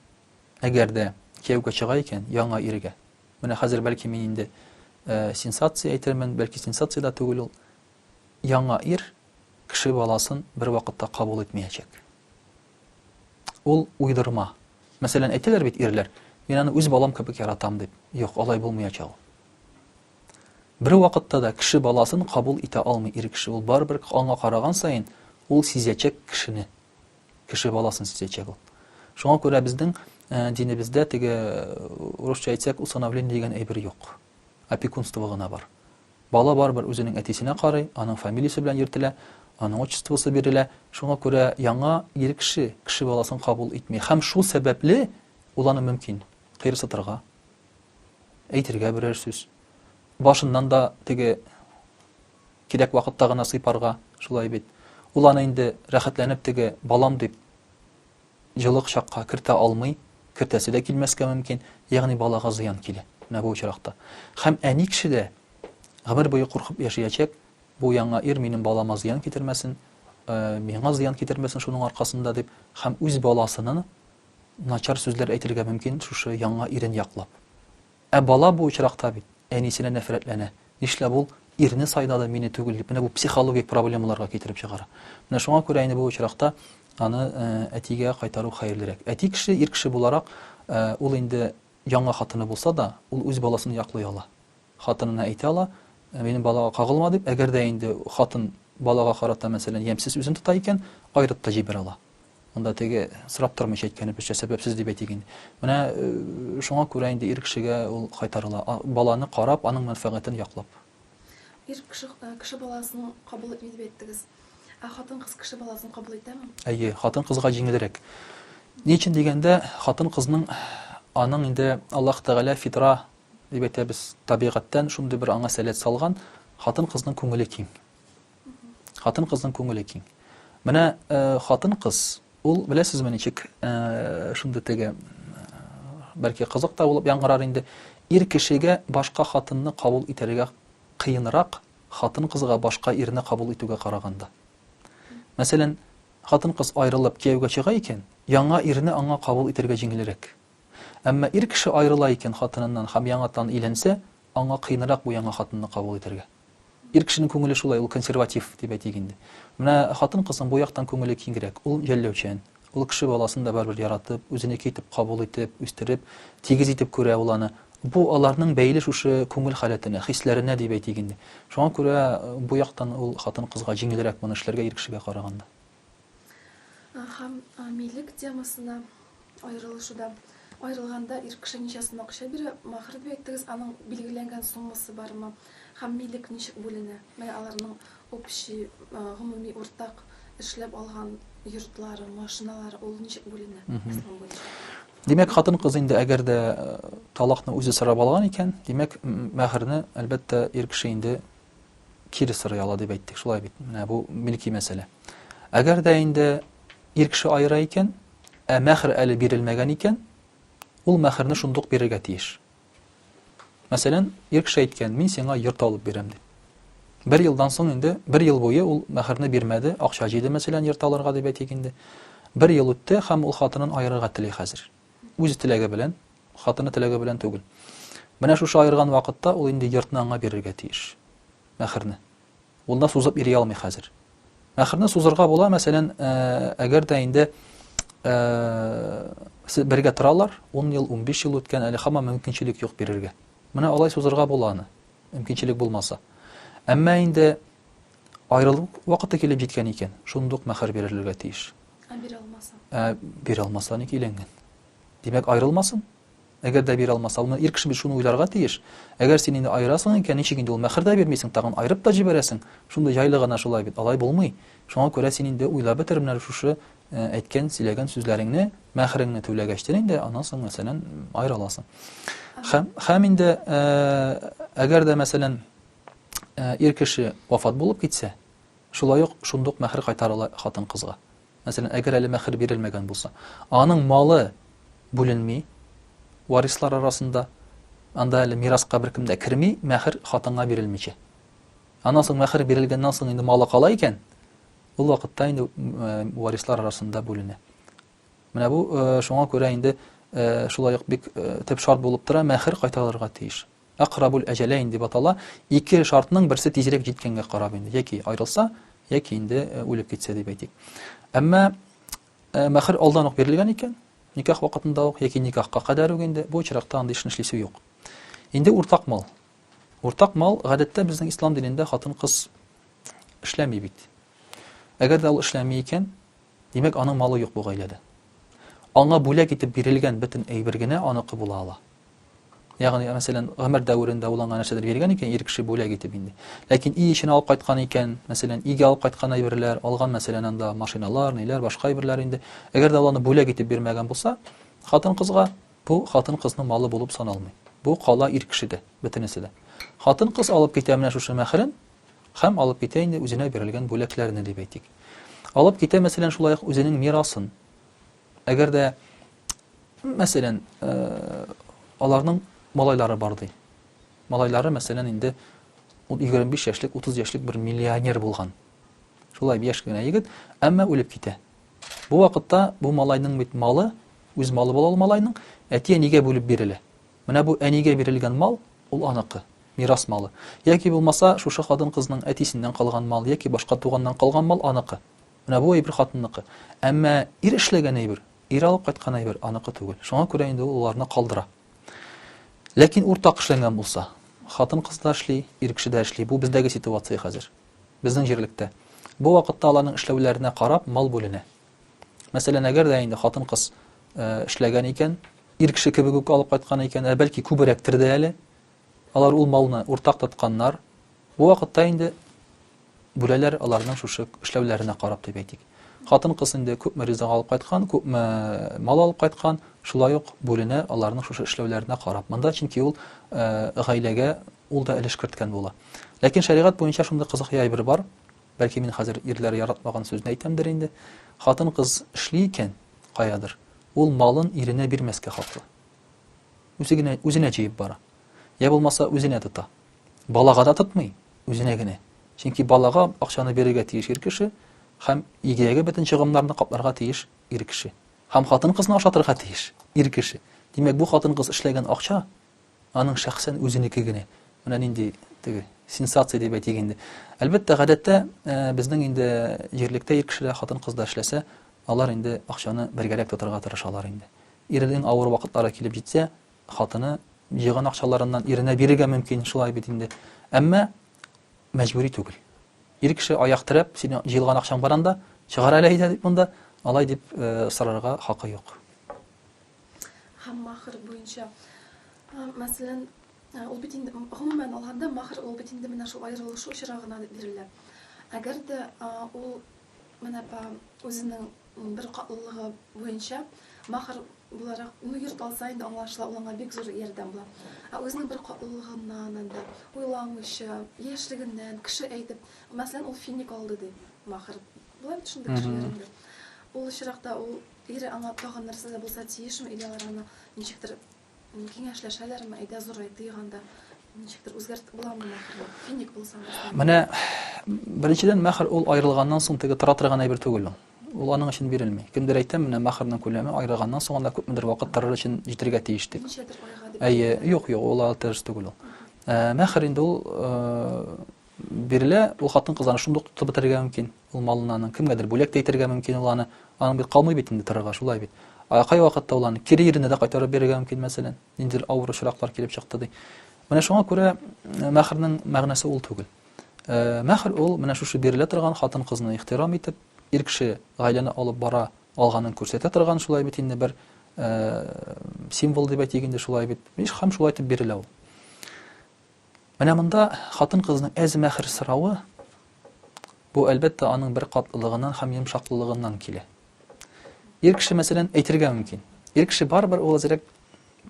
A: әгәр дә кияүгә чыга икән, яңа иргә. Менә хәзер бәлки мин инде сенсация әйтермен, бәлки сенсация дә түгел ул. Яңа ир кеше баласын бервакытта кабул итмәячәк. Ул уйдырма. Мәсәлән, әйтәләр бит ирләр, мин аны үз балам кебек яратам дип. Юк, алай булмыячак ул. Бер вакытта да кеше баласын кабул итә алмый ир кеше. Ул барыбер аңа караган саен ул сизәчәк кешене. Кеше баласын сизәчәк ул. Шуңа күрә безнең э, динебездә теге э, урысча әйтсәк усыновление дигән әйбер юк. Опекунство гына бар. Бала барыбер үзенең әтисенә карый, аның фамилиясе белән йөртелә, аның отчествосы бирелә. Шуңа күрә яңа ир кеше кеше баласын кабул итми һәм шул сәбәпле ул аны мөмкин, кыерсытырга, әйтергә берәр сүз, башыннан да теге кирәк вакытта гына сыйпарга, шулай бит, ул аны инде рәхәтләнеп теге балам дип җылы кочакка кертә алмый, кертәсе дә килмәскә мөмкин, ягъни балага зыян килә, менә бу очракта. Һәм әни кеше дә гомер буе куркып яшиячәк, бу яңа ир минем балама зыян китермәсен, миңа зыян китермәсен шуның аркасында дип, һәм үз баласына начар сүзләр әйтергә мөмкин шушы яңа ирен яклап. Ә бала бу очракта бит әнисенә нәфрәтләнә. Нишләп ул ирне сайдады, мине түгел дип, менә бу психологик проблемаларга китереп чыгара. Менә шуңа күрә инде бу очракта аны әтигә кайтару хәерлерәк. Әти кеше, ир кеше буларак, ул инде яңа хатыны булса да, ул үз баласын яклый ала. Хатынына әйтә ала, минем балага кагылма дип, әгәр дә инде хатын балага карата мәсәлән ямьсез үзен тота икән, аерып та җибәрә ала. Анда теге сорап тормыйча әйткәне безчә сәбәпсез дип әйтик инде. Менә шуңа күрә инде ир кешегә ул кайтарыла, баланы карап, аның мәнфәгатен яклап. Ир
B: кеше кеше баласын кабул итми дип әйттегез. Ә хатын-кыз кеше баласын кабул итәме? Әйе, хатын-кызга
A: җиңелрәк. Ни өчен дигәндә, хатын-кызның аның инде Аллаһ Тәгалә фитра дип әйтәбез, табигатьтән шундый бер аңа сәләт салган, хатын-кызның күңеле киң. Хатын-кызның күңеле киң. Менә хатын-кыз, ул беләсезме ничек, шундый теге бәлки кызык та булып яңгырар инде, ир кешегә башка хатынны кабул итәргә кыенрак, хатын-кызга башка ирне кабул итүгә караганда. Мәсәлән, хатын-кыз аерылып кияүгә чыга икән, яңа ирне аңа кабул итәргә җиңелрәк. Әмма ир кеше аерыла икән хатыныннан һәм яңатан өйләнсә, аңа кыенрак бу яңа хатынны кабул итәргә. Ир кешенең күңеле шулай, ул консерватив, дип әйтик инде. Менә хатын-кызның бу яктан күңеле киңрәк, ул жәлләүчән. Ул кеше баласын да барыбер яратып, үзенеке итеп кабул итеп, үстереп, тигез итеп күрә ул аны. Бу аларның бәйле шушы күңел халәтенә, хисләренә, дип әйтик инде. Шуңа күрә бу яктан ул хатын-кызга җиңелрәк моны эшләргә ир кешегә караганда.
B: Һәм милек темасына аерылышуда, аерылганда ир кеше ничә сум акча бирә? Махр дип әйттегез, аның билгеләнгән суммасы бармы? Һәм милек ничек бүленә? Менә аларның общий, гомуми, уртак эшләп алган йортлары, машиналары, ул ничек бүленә ислам буенча? Димәк, хатын-кыз
A: инде әгәр дә э, талакны үзе сорап алган икән, димәк, мәһәрне, әлбәттә, ир кеше инде кире сорый ала дип әйттек, шулай бит. Менә бу милки мәсьәлә. Әгәр дә инде ир кеше аера икән, ә мәхр әле бирелмәгән икән, ул мәхрне шундук бирергә тиеш. Мәсәлән, ир кеше әйткән, мин сиңа йорт алып бирәм дип. Бер елдан соң инде, бер ел буе ул мәхрне бирмәде, акча җыйды мәсәлән йорт алырга дип әйтик инде. Бер ел үтте һәм ул хатынын аерырга тели хәзер. Үз теләге белән, хатыны теләге белән түгел. Менә шушы аерган вакытта ул инде йортны аңа бирергә тиеш. Мәхерне. Ул да сузып йөри алмый хәзер. Мәхерне сузырга була, мәсәлән, э, әгәр дә инде э, бергә торалар, 10 ел, 15 ел үткән, әле хамма мөмкинчелек юк бирергә. Менә алай сузырга була аны, мөмкинчелек булмаса. Әмма инде аерылу вакыты килеп җиткән икән, шундук мәхер бирерләргә тиеш. Ә бирә алмаса?
B: Ә бирә алмаса ник
A: өйләнгән? Димәк, аерылмасын. Әгәр дә бирә алмаса, ул ир кеше бит шуны уйларга тиеш. Әгәр син инде аерасың икән, ничек инде ул мәхер дә бирмисең, тагын аерып та җибәрәсең? Шундый җайлы гына шулай бит, алай булмый. Шуңа күрә син инде уйлап бетер менә шушы э, әйткән, сөйләгән сүзләреңне, мәхереңне түләгәчтен инде, аннан соң, мәсәлән, аерыла аласың. Хәм, хәм инде, э, әгәр дә, мәсәлән, э, ир кеше вафат булып китсә, Шулай ук шундук мәһер кайтарыла хатын-кызга. Мәсәлән, әгәр әле мәһер бирелмәгән булса, аның малы бүленми варислар арасында, анда әле мираска беркем дә керми, мәһер хатынга бирелмичә. Аннан соң мәһер бирелгәннән соң инде малы кала икән, ул вакытта инде варислар арасында бүленә. Менә бу шуңа күрә инде шулай ук бик төп шарт булып тора, мәһер кайтарылырга тиеш. Әкърабул әҗәләйн дип атала, ике шартның берсе тизрәк җиткәнгә карап инде, яки аерылса, яки инде үлеп китсә дип әйтик. Әмма мәхер алдан ук бирелгән икән, никах вакытында ук яки никахка кадәр үк инде, бу очракта андый эшне эшлисе юк. Инде уртак мал. Уртак мал, гадәттә безнең ислам динендә хатын-кыз эшләми бит. Әгәр дә ул эшләми икән, Димәк, аның малы юк бу гаиләдә. Аңа бүләк итеп бирелгән бөтен әйбер генә аныкы була ала. Ягъни, мәсәлән, гомер дәверендә ул аңа нәрсәдер биргән икән, ир кеше бүләк итеп инде. Ләкин өй эчен алып кайткан икән, мәсәлән, өйгә алып кайткан әйберләр, алган, мәсәлән, анда машиналар, ниләр, башка әйберләр инде. Әгәр дә ул аны бүләк итеп бирмәгән булса, хатын-кызга бу хатын-кызның малы булып саналмый. Бу кала ир кешедә, бөтенесе дә. Хатын-кыз алып китә менә шушы мәхрен, Һәм алып китә инде үзенә бирелгән бүләкләрне, дип әйтик. Алып китә, мәсәлән, шулай ук үзенең мирасын. Әгәр дә, мәсәлән, аларның малайлары бар ди. Малайлары, мәсәлән, инде 25 яшьлек, 30 яшьлек бер миллионер булган. Шулай яшь кенә егет, әмма үлеп китә. Бу вакытта бу малайның бит малы, үз малы була ул малайның, әтигә нигә бүлеп бирелә? Менә бу әнигә бирелгән мал, ул аныкы, мирас малы. Яки булмаса, шушы хатын-кызның әтисеннән калган мал яки башка туганнан калган мал аныкы. Менә бу әйбер хатынныкы. Әмма ир эшләгән әйбер, ир алып кайткан әйбер аныкы түгел. Шуңа күрә инде ул аларны калдыра. Ләкин уртак эшләнгән булса, хатын-кыз да эшли, ир кеше дә эшли. Бу бездәге ситуация хәзер. Безнең җирлектә. Бу вакытта аларның эшләүләренә карап мал бүленә. Мәсәлән, әгәр дә инде хатын-кыз э, эшләгән икән, ир кеше кебек үк алып кайткан икән, ә бәлки күберәктер дә әле, алар ул малны уртак тотканнар, бу вакытта инде бүләләр аларның шушы эшләүләренә карап дип әйтик. Хатын-кыз инде күпме ризык алып кайткан, күпме э, мал алып кайткан, шулай ук бүленә аларның шушы эшләүләренә карап. Монда чөнки ул э, гаиләгә ул да өлеш керткән була. Ләкин шәригать буенча шундый кызык яй бер бар. Бәлки мин хәзер ирләр яратмаган сүзне әйтәмдер инде. Хатын-кыз эшли икән, каядыр, ул малын иренә бирмәскә хаклы. Үзе генә үзенә җыеп бара. Йә булмаса үзенә тота. Балага да тотмый, үзенә генә. Чөнки балага акчаны бирергә тиеш ир кеше һәм идеягә бөтен чыгымнарны капларга тиеш ир кеше. Һәм хатын-кызны ашатырга тиеш ир кеше. Димәк, бу хатын-кыз эшләгән акча Аның шәхсән үзенеке генә. Менә нинди теге сенсация дип әйтик инде. Әлбәттә, гадәттә безнең инде җирлектә ир кешеләр, хатын-кыз да эшләсә, алар инде акчаны бергәрәк тотарга тырышалар инде. Иренең авыр вакытлары килеп җитсә, хатыны җыйган акчаларыннан иренә бирергә мөмкин, шулай бит инде. Әмма мәҗбүри түгел. Ир кеше аяк терәп, синең җыелган акчаң бар анда, чыгар әле әйдә дип монда, алай дип сорарга хакы юк.
B: һәм махр буенча. Мәсәлән, ул бит инде гомумән алганда махр ул бит инде менә шул аерылышу очрагына бирелә. Әгәр дә ул менә по үзенең бер катлылыгы буенча махр буларак, ну, йорт алса инде аңлашыла, ул аңа бик зур ярдәм була. Ә үзенең бер катлылыгыннан инде, уйламыйча, яшьлегеннән, кеше әйтеп, мәсәлән, ул финик алды ди, махр. Була бит шундый кешеләр инде. Ул очракта ул Ире аңа тагын нәрсә дә булса тиешме, или алар аны ничектер киңәшләшәләрме, әйдә зурай тыйк анда, ничектер үзгәрт буламы мәхерне, финик булса мәхерне. Менә
A: беренчедән мәхер ул аерылганнан соң теге тора торган әйбер түгел ул. Ул аның өчен бирелми. Кемдер әйтә, менә мәхернең күләме аерылганнан соң анда күпмедер вакыт торыр өчен җитергә тиеш дип. Ничәдер айга
B: дип. Әйе, юк, юк, ул алты
A: эш түгел ул. Мәхер инде ул Бирелә, ул хатын-кыз аны шундук тотып бетерергә мөмкин, ул малын аның, кемгәдер бүләк тә итәргә мөмкин ул аны, аның бит калмый бит инде торырга, шулай бит. Ә кайвакытта ул аны кире иренә дә кайтарып бирергә мөмкин, мәсәлән, ниндидер авыр очраклар килеп чыкты ди. Менә шуңа күрә мәхернең мәгънәсе ул түгел. Мәхер ул менә шушы бирелә торган хатын-кызны ихтирам итеп, ир кеше гаиләне алып бара алганын күрсәтә торган шулай бит инде бер символ дип әйтик инде шулай бит. Һәм шулай итеп бирелә ул. Менә монда хатын-кызның әз-мәхер соравы, бу, әлбәттә, аның беркатлылыгыннан һәм йомшаклылыгыннан килә. Ир кеше, мәсәлән, әйтергә мөмкин. Ир кеше барыбер ул әзрәк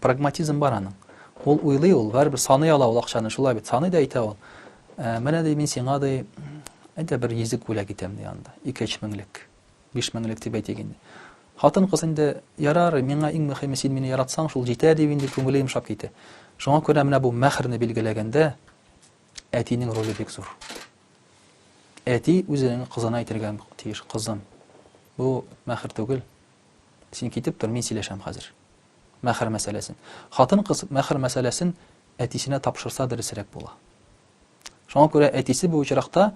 A: прагматизм бар аның. Ул уйлый ул, барыбер саный ала ул акчаны, шулай бит, саный да әйтә ул. Ә, менә ди, мин сиңа ди, әйдә бер йөзек бүләк итәм ди анда, ике-өч меңлек. Биш меңлек дип әйтик инде. Хатын-кыз инде, Ярар, миңа иң мөхиме, син мине яратсаң, шул җитә, дип инде күңеле йомшап китә. Шуңа күрә менә бу мәһрне билгеләгәндә әтинең роле бик зур. Әти үзенең кызына әйтергә тиеш, кызым, бу мәһр түгел, син китеп тор, мин сөйләшәм хәзер. Мәһр мәсьәләсен. Хатын-кыз мәһр мәсьәләсен әтисенә тапшырса дөресрәк була. Шуңа күрә әтисе бу очракта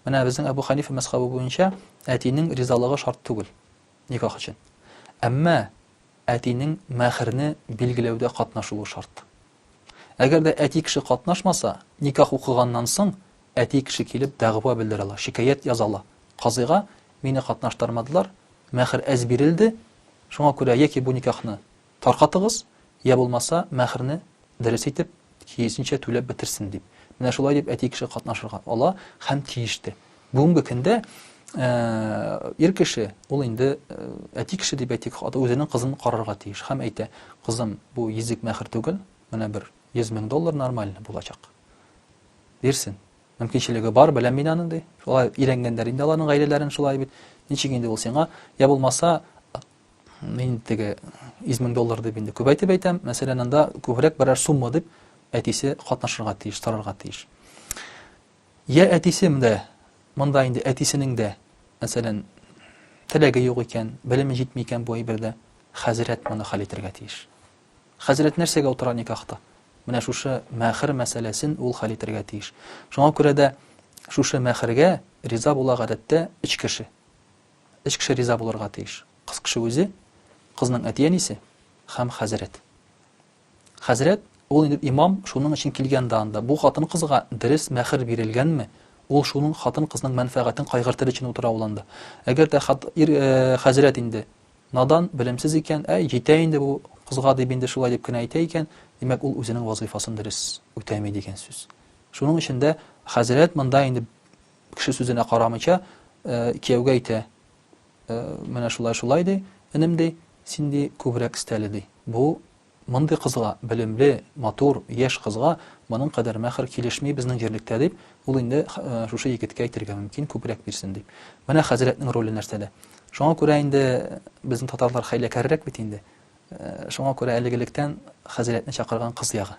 A: Менә безнең Әбү Хәнифә мәзхәбе буенча әтинең ризалыгы шарт түгел никах өчен. Әмма әтинең мәһрне билгеләүдә катнашуы шарт. Әгәр дә әти кеше катнашмаса, никах укыганнан соң әти кеше килеп дәгъва белдерә ала, шикаять яза ала. Казыйга мине катнаштырмадылар, мәһр әз бирелде, шуңа күрә яки бу никахны Таркатыгыз, йә булмаса, мәһрне дөрес итеп, тиесенчә түләп бетерсен, дип. Менә шулай дип әти кеше катнашырга ала һәм тиеш тә. Бүгенге көндә ир кеше, ул инде әти кеше дип әйтик, үзенең кызын карарга тиеш һәм әйтә, кызым, бу йөзек мәһр түгел, менә бер 100 мең доллар нормальный булачак. Бирсен. Мөмкинчелеге бар, беләм мин аны, ди. Шулай өйрәнгәннәр инде аларның гаиләләрен шулай бит. Ничек инде ул сиңа? Я булмаса, Мин теге 100 мең доллар дип инде күбәйтеп әйтәм. Мәсәлән, анда күбрәк берәр сумма дип әтисе катнашырга тиеш, тарарга тиеш. Я әтисем дә, монда инде әтисенең дә, мәсәлән, теләге юк икән, белеме җитми икән бу әйбердә, хәзрәт моны хәл итәргә тиеш. Хәзрәт нәрсәгә утыра никахта? Менә шушы мәхер мәсьәләсен ул хәл итәргә тиеш. Шуңа күрә дә шушы мәхергә риза була гадәттә өч кеше. Өч кеше риза булырга тиеш. Кыз кеше үзе, кызның әти-әнисе һәм хәзрәт. Хәзрәт, ул инде имам, шуның өчен килгән дә анда. Бу хатын-кызга дөрес мәхер бирелгәнме, ул шуның хатын-кызның мәнфәгатен кайгыртыр өчен утыра ул анда. Әгәр дә ир, хәзрәт инде надан, белемсез икән, әй, җитә инде бу кызга дип инде шулай дип кенә әйтә икән, димәк, ул үзенең вазыйфасын дөрес үтәми дигән сүз. Шуның өчен дә хәзрәт монда инде Кеше сүзенә карамыйча, кияүгә әйтә, Менә шулай, шулай, ди, энем, ди, син, ди, күбрәк эстәле, ди. Бу, мондый кызга, белемле, матур, яшь кызга моның кадәр мәһр килешми безнең җирлектә, дип, ул инде шушы егеткә әйтергә мөмкин, күбрәк бирсен, дип. Менә хәзрәтнең роле нәрсәдә. Шуңа күрә инде безнең татарлар хәйләкәррәк бит инде. Шуңа күрә әлеге лектән хәзрәтне чакырган кыз ягы.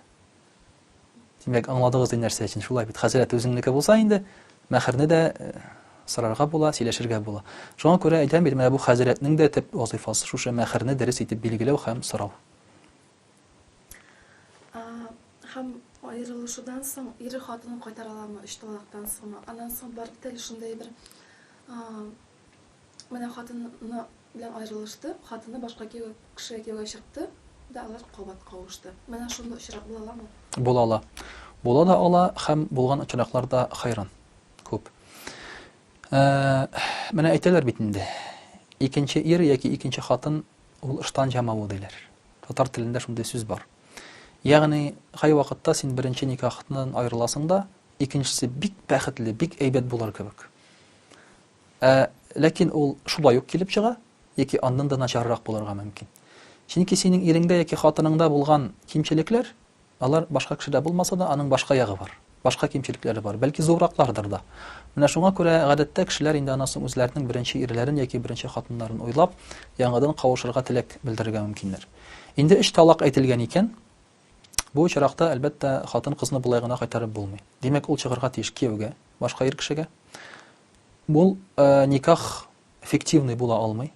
A: Димәк, аңладыгыз ди нәрсә өчен, шулай бит, хәзрәт үзеңнеке булса инде, мәһерне дә сорарга була, сөйләшергә була. Шуңа күрә әйтәм бит, менә бу хәзрәтнең дә төп вазыйфасы шушы мәһерне дөрес итеп билгеләү һәм сорау.
B: Һәм аерылышудан соң ире хатынын кайтара аламы, өч талактан соңмы? Аннан соң барып тел шундый бер Менә хатыны белән аерылышты, хатыны башка кешегә кияүгә чыкты да алар кабат кавышты. Менә шундый очрак була аламы? Була ала.
A: Була да ала һәм булган очраклар да хәйран күп. Менә әйтәләр бит инде, икенче ир яки икенче хатын ул ыштан җамавы диләр. Татар телендә шундый сүз бар. Ягъни, кай вакытта син беренче никахтан аерыласың да, икенчесе бик бәхетле, бик әйбәт булыр кебек. Ә ләкин ул шулай ук килеп чыга, яки аннан да начаррак булырга мөмкин. Чөнки синең иреңдә яки хатыныңда булган кимчелекләр, алар башка кешедә булмаса да, аның башка ягы бар, башка кимчелекләре бар, бәлки зурраклардыр да. Менә шуңа күрә гадәттә кешеләр инде аннан соң үзләренең беренче ирләрен яки беренче хатыннарын уйлап, яңадан кавышырга теләк белдерергә мөмкиннәр. Инде өч талак әйтелгән икән, Бу очракта, әлбәттә, хатын-кызны болай гына кайтарып булмый. Димәк, ул чыгарга тиеш кияүгә, башка ир кешегә. Бул никах фиктивный була алмый,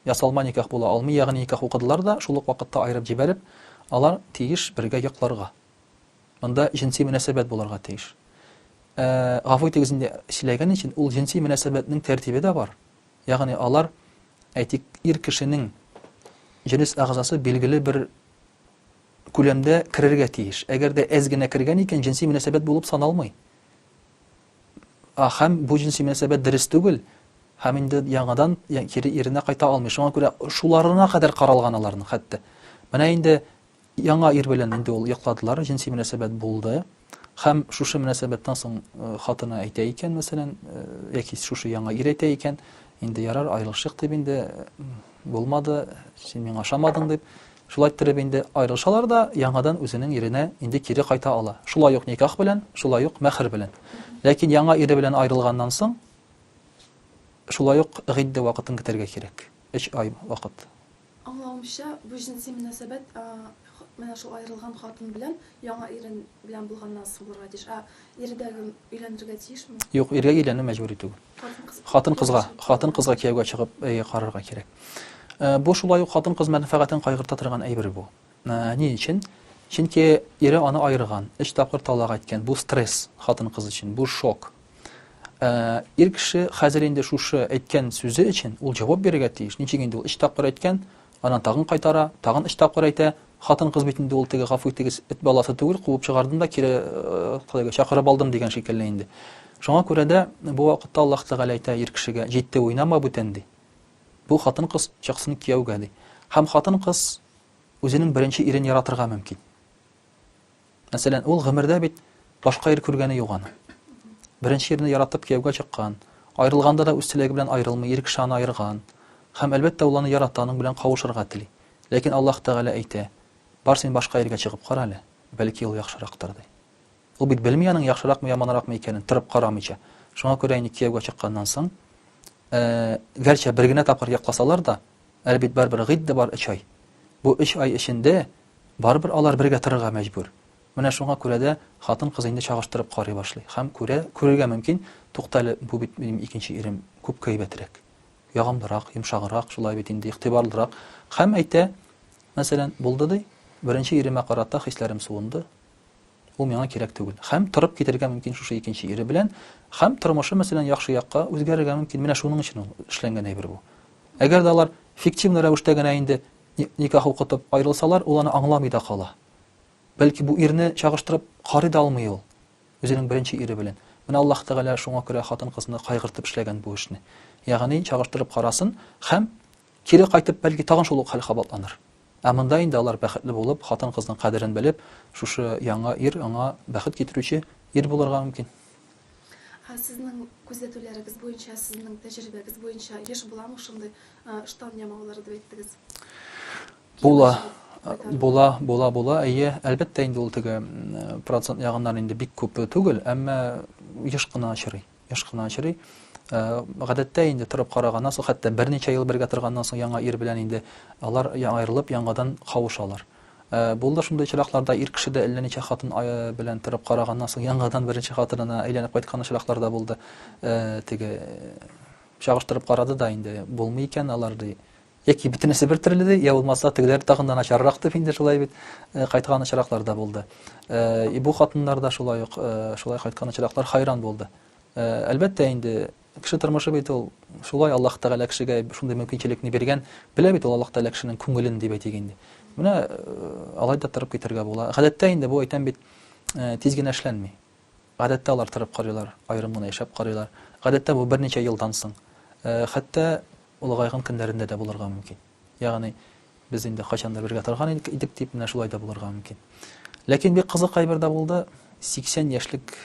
A: ясалма никах була алмый, ягъни никах укыдылар да, шул ук вакытта аерып җибәреп, алар тиеш бергә йокларга. Монда җенси мөнәсәбәт булырга тиеш. Ә, гафу итегез инде, сөйләгән өчен, ул җенси мөнәсәбәтнең тәртибе дә бар. Ягъни алар, әйтик, ир кешенең җенес әгъзасы билгеле бер күләмдә керергә тиеш. Әгәр дә әз генә кергән икән, җенси мөнәсәбәт булып саналмый. Һәм бу җенси мөнәсәбәт дөрес түгел, һәм инде яңадан кире иренә кайта алмый. Шуңа күрә шуларына кадәр каралган аларның хәтта. Менә инде яңа ир белән инде ул йокладылар, җенси мөнәсәбәт булды. Һәм шушы мөнәсәбәттән соң хатыны әйтә икән, мәсәлән, яки шушы яңа ир әйтә икән, инде ярар, аерылышыйк дип инде, булмады, син миңа ошамадың дип, шулай иттереп инде аерылышалар да, яңадан үзенең иренә инде кире кайта ала. Шулай ук никах белән, шулай ук мәхер белән. Ләкин яңа ире белән аерылганнан соң, шулай ук гыйддә вакытын көтәргә кирәк. Өч ай вакыт. Аңлавымча,
B: бу җенси мөнәсәбәт менә шул аерылган хатын белән яңа ире белән булганнан соң булырга тиеш. Ә ире дә гел өйләнергә тиешме? Юк, иргә өйләнү
A: мәҗбүри түгел. Хатын-кызга, хатын-кызга кияүгә чыгып, әйе, карарга кирәк. Бу шулай ук хатын-кыз мәнфәгатен кайгырта торган әйбер бу. Ни өчен? Чөнки ире аны аерган, өч тапкыр талак әйткән. Бу стресс хатын-кыз өчен, бу шок. Ир кеше хәзер инде шушы әйткән сүзе өчен ул җавап бирергә тиеш. Ничек инде ул өч тапкыр әйткән, анан тагын кайтара, тагын өч тапкыр әйтә. Хатын-кыз бит инде ул теге гафу итегез, эт баласы түгел, куып чыгардым да кире калайга чакырып алдым дигән шикелле инде. Шуңа күрә дә бу вакытта Аллаһ Тәгалә әйтә ир кешегә, җитте уйнама бүтән ди. Бу хатын-кыз чыксын кияүгә ди. Һәм хатын-кыз үзенең беренче ирен яратырга мөмкин. Мәсәлән, ул гомердә бит башка ир күргәне юк аның. Беренче ирне яратып кияүгә чыккан, аерылганда да үз теләге белән аерылмый, ир кеше аны аерган. Һәм, әлбәттә, ул аны ярата, аның белән кавышырга тели. Ләкин Аллаһ Тәгалә әйтә, Бар, син башка иргә чыгып кара әле, бәлки, ул яхшырактыр, ди. Ул бит белми аның яхшыракмы, яманракмы икәнен, торып карамыйча. Шуңа күрә инде кияүгә чыкканнан соң, гәрчә бер генә тапкыр якласалар да, Әле бит барыбер гыйдд бар өч ай. Бу өч ай эчендә барыбер алар бергә торырга мәҗбүр. Менә шуңа күрә дә хатын-кыз инде чагыштырып карый башлый һәм күрә, күрергә мөмкин, туктале, бу бит минем икенче ирем күпкә әйбәтрәк, ягымлырак, йомшаграк, шулай бит инде, игътибарлырак, һәм әйтә, мәсәлән, булды ди, беренче иремә карата хисләрем суынды, Ул миңа кирәк түгел. Хәм торып китәргә мөмкин шушы икенче ире белән. Хәм тормышы, мәсәлән, яхшы якка үзгәрергә мөмкин. Менә шуның өчен ул эшләнгән әйбер бу. Әгәр дә алар фиктивный рәвештә генә инде никах укытып аерылсалар, ул аны аңламый да кала. Бәлки бу ирне чагыштырып карый да алмый ул үзенең беренче ире белән. Менә Аллаһ Тәгалә шуңа күрә хатын-кызны кайгыртып эшләгән бу эшне. Ягъни чагыштырып карасын хәм Кире кайтып, бәлки, тагын шул ук хәл кабатланыр. Ә монда инде алар бәхетле булып, хатын-кызның кадерен белеп, шушы яңа ир аңа бәхет китерүче ир булырга мөмкин. Ә
B: сезнең күзәтүләрегез буенча, сезнең тәҗрибәгез буенча еш буламы шундый ыштан ямаулары дип әйттегез? Була. Була, була, була. Әйе, әлбәттә инде ул теге процент ягыннан инде бик күп түгел, әмма еш кына очрый. Еш кына очрый. Э, гадәттә инде торып караганнан соң, хәтта берничә ел бергә торганнан соң яңа ир белән инде алар аерылып яңадан кавышалар. Э, булды шундый очракларда ир кеше дә әллә ничә хатын э, белән торып караганнан соң яңадан беренче хатынына әйләнеп кайткан очраклар да булды. Теге чагыштырып карады да инде булмый икән алар ди. Яки бөтенесе бер төрле ди, я булмаса тегеләр тагын да начаррак дип инде шулай бит э, кайткан очраклар да булды. Э, и бу хатыннар да шулай ук э, шулай кайткан очраклар хайран булды. Әлбәттә инде кеше
A: тормышы бит ул шулай Аллаһ Тәгалә кешегә шундый мөмкинчелекне биргән. Белә бит ул Аллаһ Тәгалә кешенең күңелен дип әйтик инде. Менә алай да торып китәргә була. Гадәттә инде бу әйтәм бит тиз генә эшләнми. Гадәттә алар торып карыйлар, аерым гына яшәп карыйлар. Гадәттә бу берничә елдан соң, хәтта олыгайган көннәрендә дә булырга мөмкин. Ягъни без инде кайчан да бергә торган идек дип, менә шулай да булырга мөмкин. Ләкин бик кызыкай бер дә булды, 80 яшьлек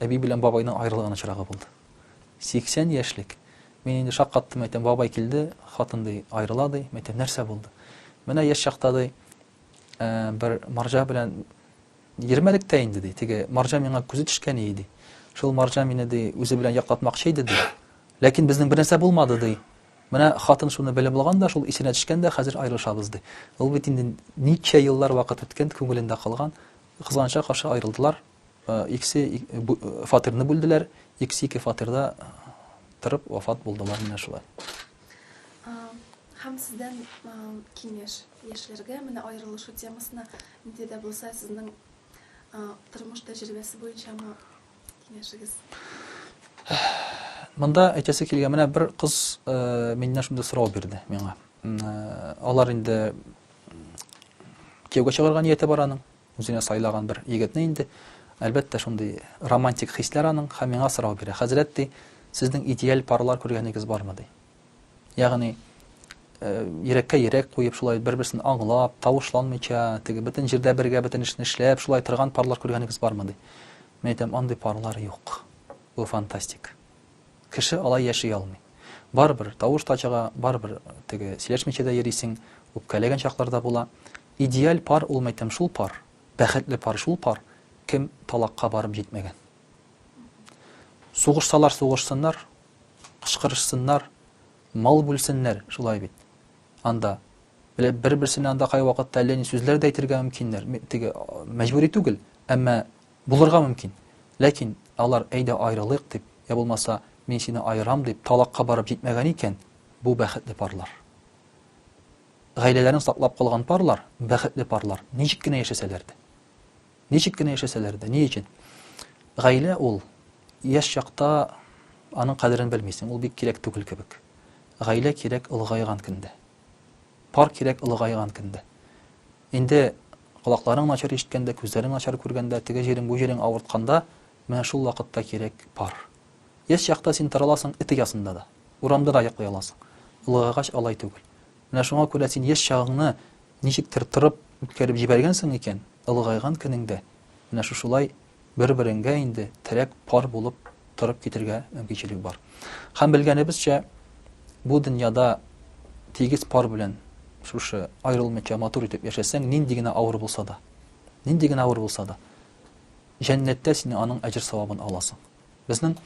A: әби белән бабайның аерылган очрагы булды. 80 яшьлек. Мин инде шаккаттым, әйтәм, бабай килде, хатын ди, аерыла ди. Әйтәм, нәрсә булды? Менә яшь чакта ди, бер марҗа белән Йөрмәдек тә инде, ди. Теге марҗа миңа күзе төшкән ие, ди. Шул марҗа мине, ди, үзе белән яклатмакчы иде, ди. Ләкин безнең бернәрсә булмады, ди. Менә хатын шуны белеп алган да, шул исенә төшкән дә, хәзер аерылышабыз, ди. Ул бит инде ничә еллар вакыт үткән, күңелендә калган. Кызганычка каршы, аерылдылар. Икесе фатирны бүлделәр, икесе ике фатирда торып вафат булдылар. Менә шулай.
B: Һәм сездән киңәш? Яшьләргә менә аерылышу темасына нинди дә булса сезнең тормыш тәҗрибәсе буенча аңа
A: киңәшегез? Монда әйтәсе килгән, менә бер кыз миннән шундый сорау бирде миңа. Алар инде кияүгә чыгарга нияте бар аның, үзенә сайлаган бер егетне инде. Әлбәттә, шундый романтик хисләр аның, һәм миңа сорау бирә. Хәзрәт ди, сезнең идеаль парлар күргәнегез бармы ди? Ягъни, йөрәккә йөрәк куеп, шулай бер-берсен аңлап, тавышланмыйча, теге бөтен җирдә бергә бөтен эшне эшләп, шулай торган парлар күргәнегез бармы, ди. Мин әйтәм, андый парлар юк. Бу фантастик. Кеше алай яши алмый. Барыбер тавыш та чыга, барыбер теге сөйләшмичә дә йөрисең, үпкәләгән чаклар да була. Идеаль пар ул, мин әйтәм, шул пар, бәхетле пар шул пар, кем талакка барып җитмәгән. Сугышсалар сугышсыннар, Кычкырышсыннар, мал бүлсеннәр, шулай бит. Анда бер-берсенә анда кайвакытта әллә ни сүзләр дә әйтергә мөмкиннәр, теге мәҗбүри түгел, әмма булырга мөмкин. Ләкин алар әйдә аерылыйк дип, я булмаса мин сине аерам дип талакка барып җитмәгән икән, бу бәхетле парлар. Гаиләләрен саклап калган парлар, бәхетле парлар, ничек кенә яшәсәләр дә. Ничек кенә яшәсәләр дә, ни өчен? Гаилә ул, яшь чакта аның кадерен белмисең, ул бик кирәк түгел кебек. Гаилә кирәк олыгайган көндә. Пар кирәк олыгайган көндә. Инде колакларың начар ишеткәндә, күзләрең начар күргәндә, теге җирең, бу җирең авыртканда, менә шул вакытта кирәк пар. Яшь чакта син тараласың эт оясында да, урамда да йоклый аласың. Олыгайгач алай түгел. Менә шуңа күрә син яшь чагыңны Ничектер тырып үткәреп җибәргәнсең икән, олыгайган көнеңдә менә шушылай бер-береңгә инде терәк пар булып торып китергә мөмкинчелек бар. Һәм белгәнебезчә, бу дөньяда тигез пар белән шушы аерылмыйча матур итеп яшәсәң, нинди генә авыр булса да, нинди генә авыр булса да, җәннәттә син аның әҗер-савабын аласың. Безнең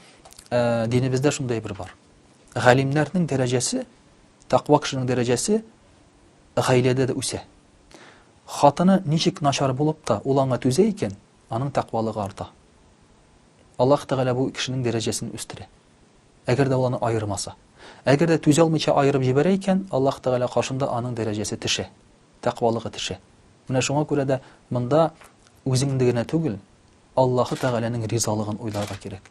A: динебездә шундый бер бар. Галимнәрнең дәрәҗәсе, таква кешенең дәрәҗәсе Гаиләдә дә үсә. Хатыны ничек начар булып та, ул аңа түзә икән, аның тәкъвалыгы арта. Аллаһ Тәгалә бу кешенең дәрәҗәсен үстерә. Әгәр дә ул аны аермаса. Әгәр дә түзә алмыйча аерып җибәрә икән, Аллаһ Тәгалә каршында аның дәрәҗәсе төшә, тәкъвалыгы төшә. Менә шуңа күрә дә монда үзеңне генә түгел, Аллаһы Тәгаләнең ризалыгын уйларга кирәк.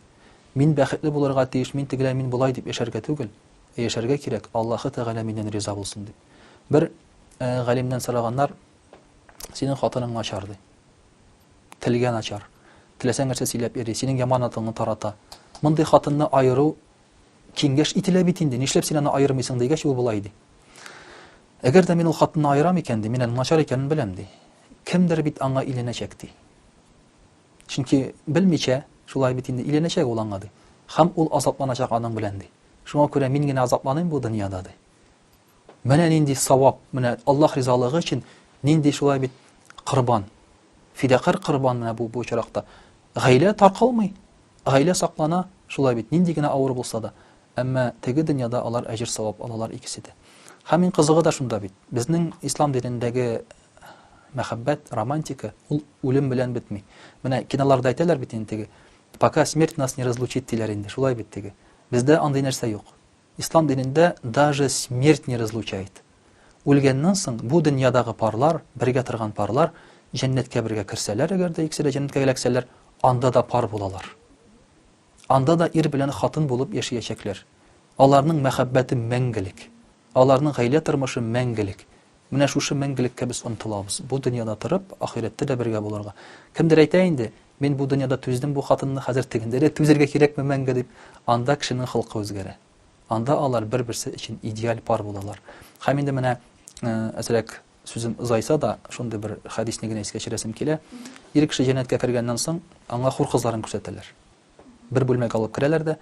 A: Мин бәхетле булырга тиеш, мин тегеләй, мин болай дип яшәргә түгел. яшәргә кирәк, Аллаһы Тәгалә миннән риза булсын, дип. Бер галимнән сораганнар, Синең хатының начар, ди. Телгә начар. Теләсәң нәрсә сөйләп йөри, синең яман атыңны тарата. Мондый хатынны аеру киңгәш ителә бит инде, нишләп син аны аермыйсың дигәч, ул болай ди. Әгәр дә мин ул хатынны аерам икән, ди, мин аның начар икәнен беләм, ди. Кемдер бит аңа иленәчәк, ди. Чөнки белмичә, шулай бит инде иленәчәк ул аңа, ди. Һәм ул азапланачак аның белән, ди. Шуңа күрә мин генә азапланыйм бу дөньяда, ди. Менә нинди савап, менә Аллаһ ризалыгы өчен нинди шулай бит корбан. Фидакарь корбан менә бу бу очракта. Гаилә таркалмый, гаилә саклана, шулай бит, нинди генә авыр булса да. Әмма теге дөньяда алар әҗер-савап алалар икесе дә. Һәм иң кызыгы да шунда бит, безнең ислам динендәге мәхәббәт, романтика, ул үлем белән бетми. Менә киноларда әйтәләр бит инде теге, пока смерть нас не разлучит диләр инде, шулай бит теге. Бездә андый нәрсә юк. Ислам динендә даже смерть не разлучает. Үлгәннән соң бу дөньядагы парлар, бергә торган парлар җәннәткә бергә керсәләр, әгәр дә икесе дә җәннәткә эләксәләр, анда да пар булалар. Анда да ир белән хатын булып яшиячәкләр. Аларның мәхәббәте мәңгелек. Аларның гаилә тормышы мәңгелек. Менә шушы мәңгелеккә без омтылабыз, бу дөньяда торып, ахирәттә дә бергә булырга. Кемдер әйтә инде, Мин бу дөньяда түздем бу хатынны, хәзер тегендә дә түзергә кирәкме мәңге, дип. Анда кешенең холкы үзгәрә. Анда алар бер-берсе өчен идеаль пар булалар. Һәм инде менә, әзрәк сүзем озайса да, шундый бер хәдисне генә искә төшерәсем килә. Ир кеше җәннәткә кергәннән соң, аңа хур кызларын күрсәтәләр. Бер бүлмәгә алып керәләр дә,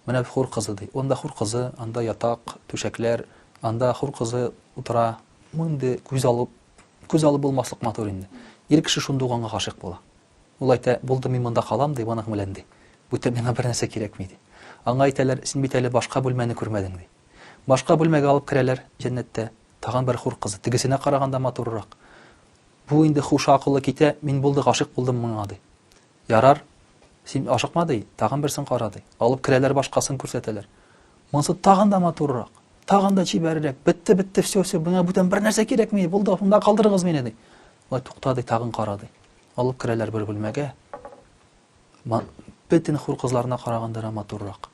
A: Менә хур кызы, ди. Анда хур кызы, анда ятак, түшәкләр, анда хур кызы утыра. Мондый күз алып, күз алып булмаслык матур инде. Ир кеше шундук аңа гашыйк була. Ул әйтә, Булды, мин монда калам, ди, моның белән, ди. Бүтән миңа бернәрсә кирәкми, ди. Аңа әйтәләр, Син бит әле башка бүлмәне күрмәдең, ди. Башка бүлмәгә алып керәләр, җәннәттә, тагын бер хур кызы, тегесенә караганда матуррак. Бу инде хуш акылы китә, Мин булды гашыйк булдым моңа, ди. Ярар, син ашыкма, ди, тагын берсен кара, ди. Алып керәләр, башкасын күрсәтәләр. Монысы тагын да матуррак, тагын да чибәррәк. Бетте, бетте, все, все, миңа бүтән бернәрсә кирәкми, булды, монда калдырыгыз мине, ди. Ай, тукта, ди, тагын кара, ди. Алып керәләр бер бүлмәгә. Бөтен хур кызларына караганда да матуррак.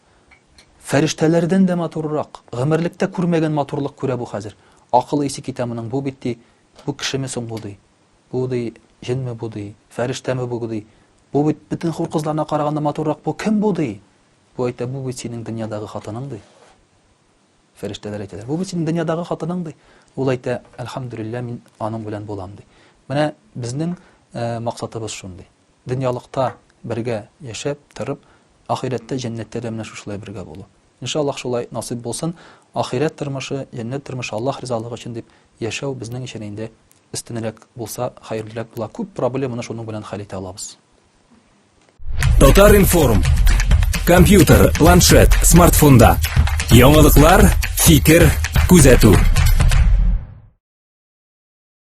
A: Фәрештәләрдән дә матуррак. Гомерлектә күрмәгән матурлык күрә бу хәзер. Акылы исе китә моның, бу бит, ди, бу кешеме соң бу, ди. Бу, ди, җенме бу, ди, фәрештәме бу, ди, бу бит бөтен хур кызларына караганда матуррак бу, кем бу, ди. Бу әйтә, бу бит синең дөньядагы хатының, ди. Фәрештәләр әйтәләр, бу бит синең дөньядагы хатының, ди. Ул әйтә, әлхәмдүлиллә, мин аның белән булам, ди. Менә безнең э, максатыбыз шундый. Дөньялыкта бергә яшәп, торып, ахирәттә, җәннәттә дә менә шушылай бергә булу. Иншаллах шулай насыйп булсын. Ахирәт тормышы, җәннәт тормышы Аллаһ ризалыгы өчен дип яшәү безнең өчен инде Өстенрәк булса, хәерлерәк була. Күп проблеманы шуның белән хәл итә алабыз. Татар-информ.
C: Компьютер, планшет, смартфонда. Яңалыклар, фикер, күзәтү.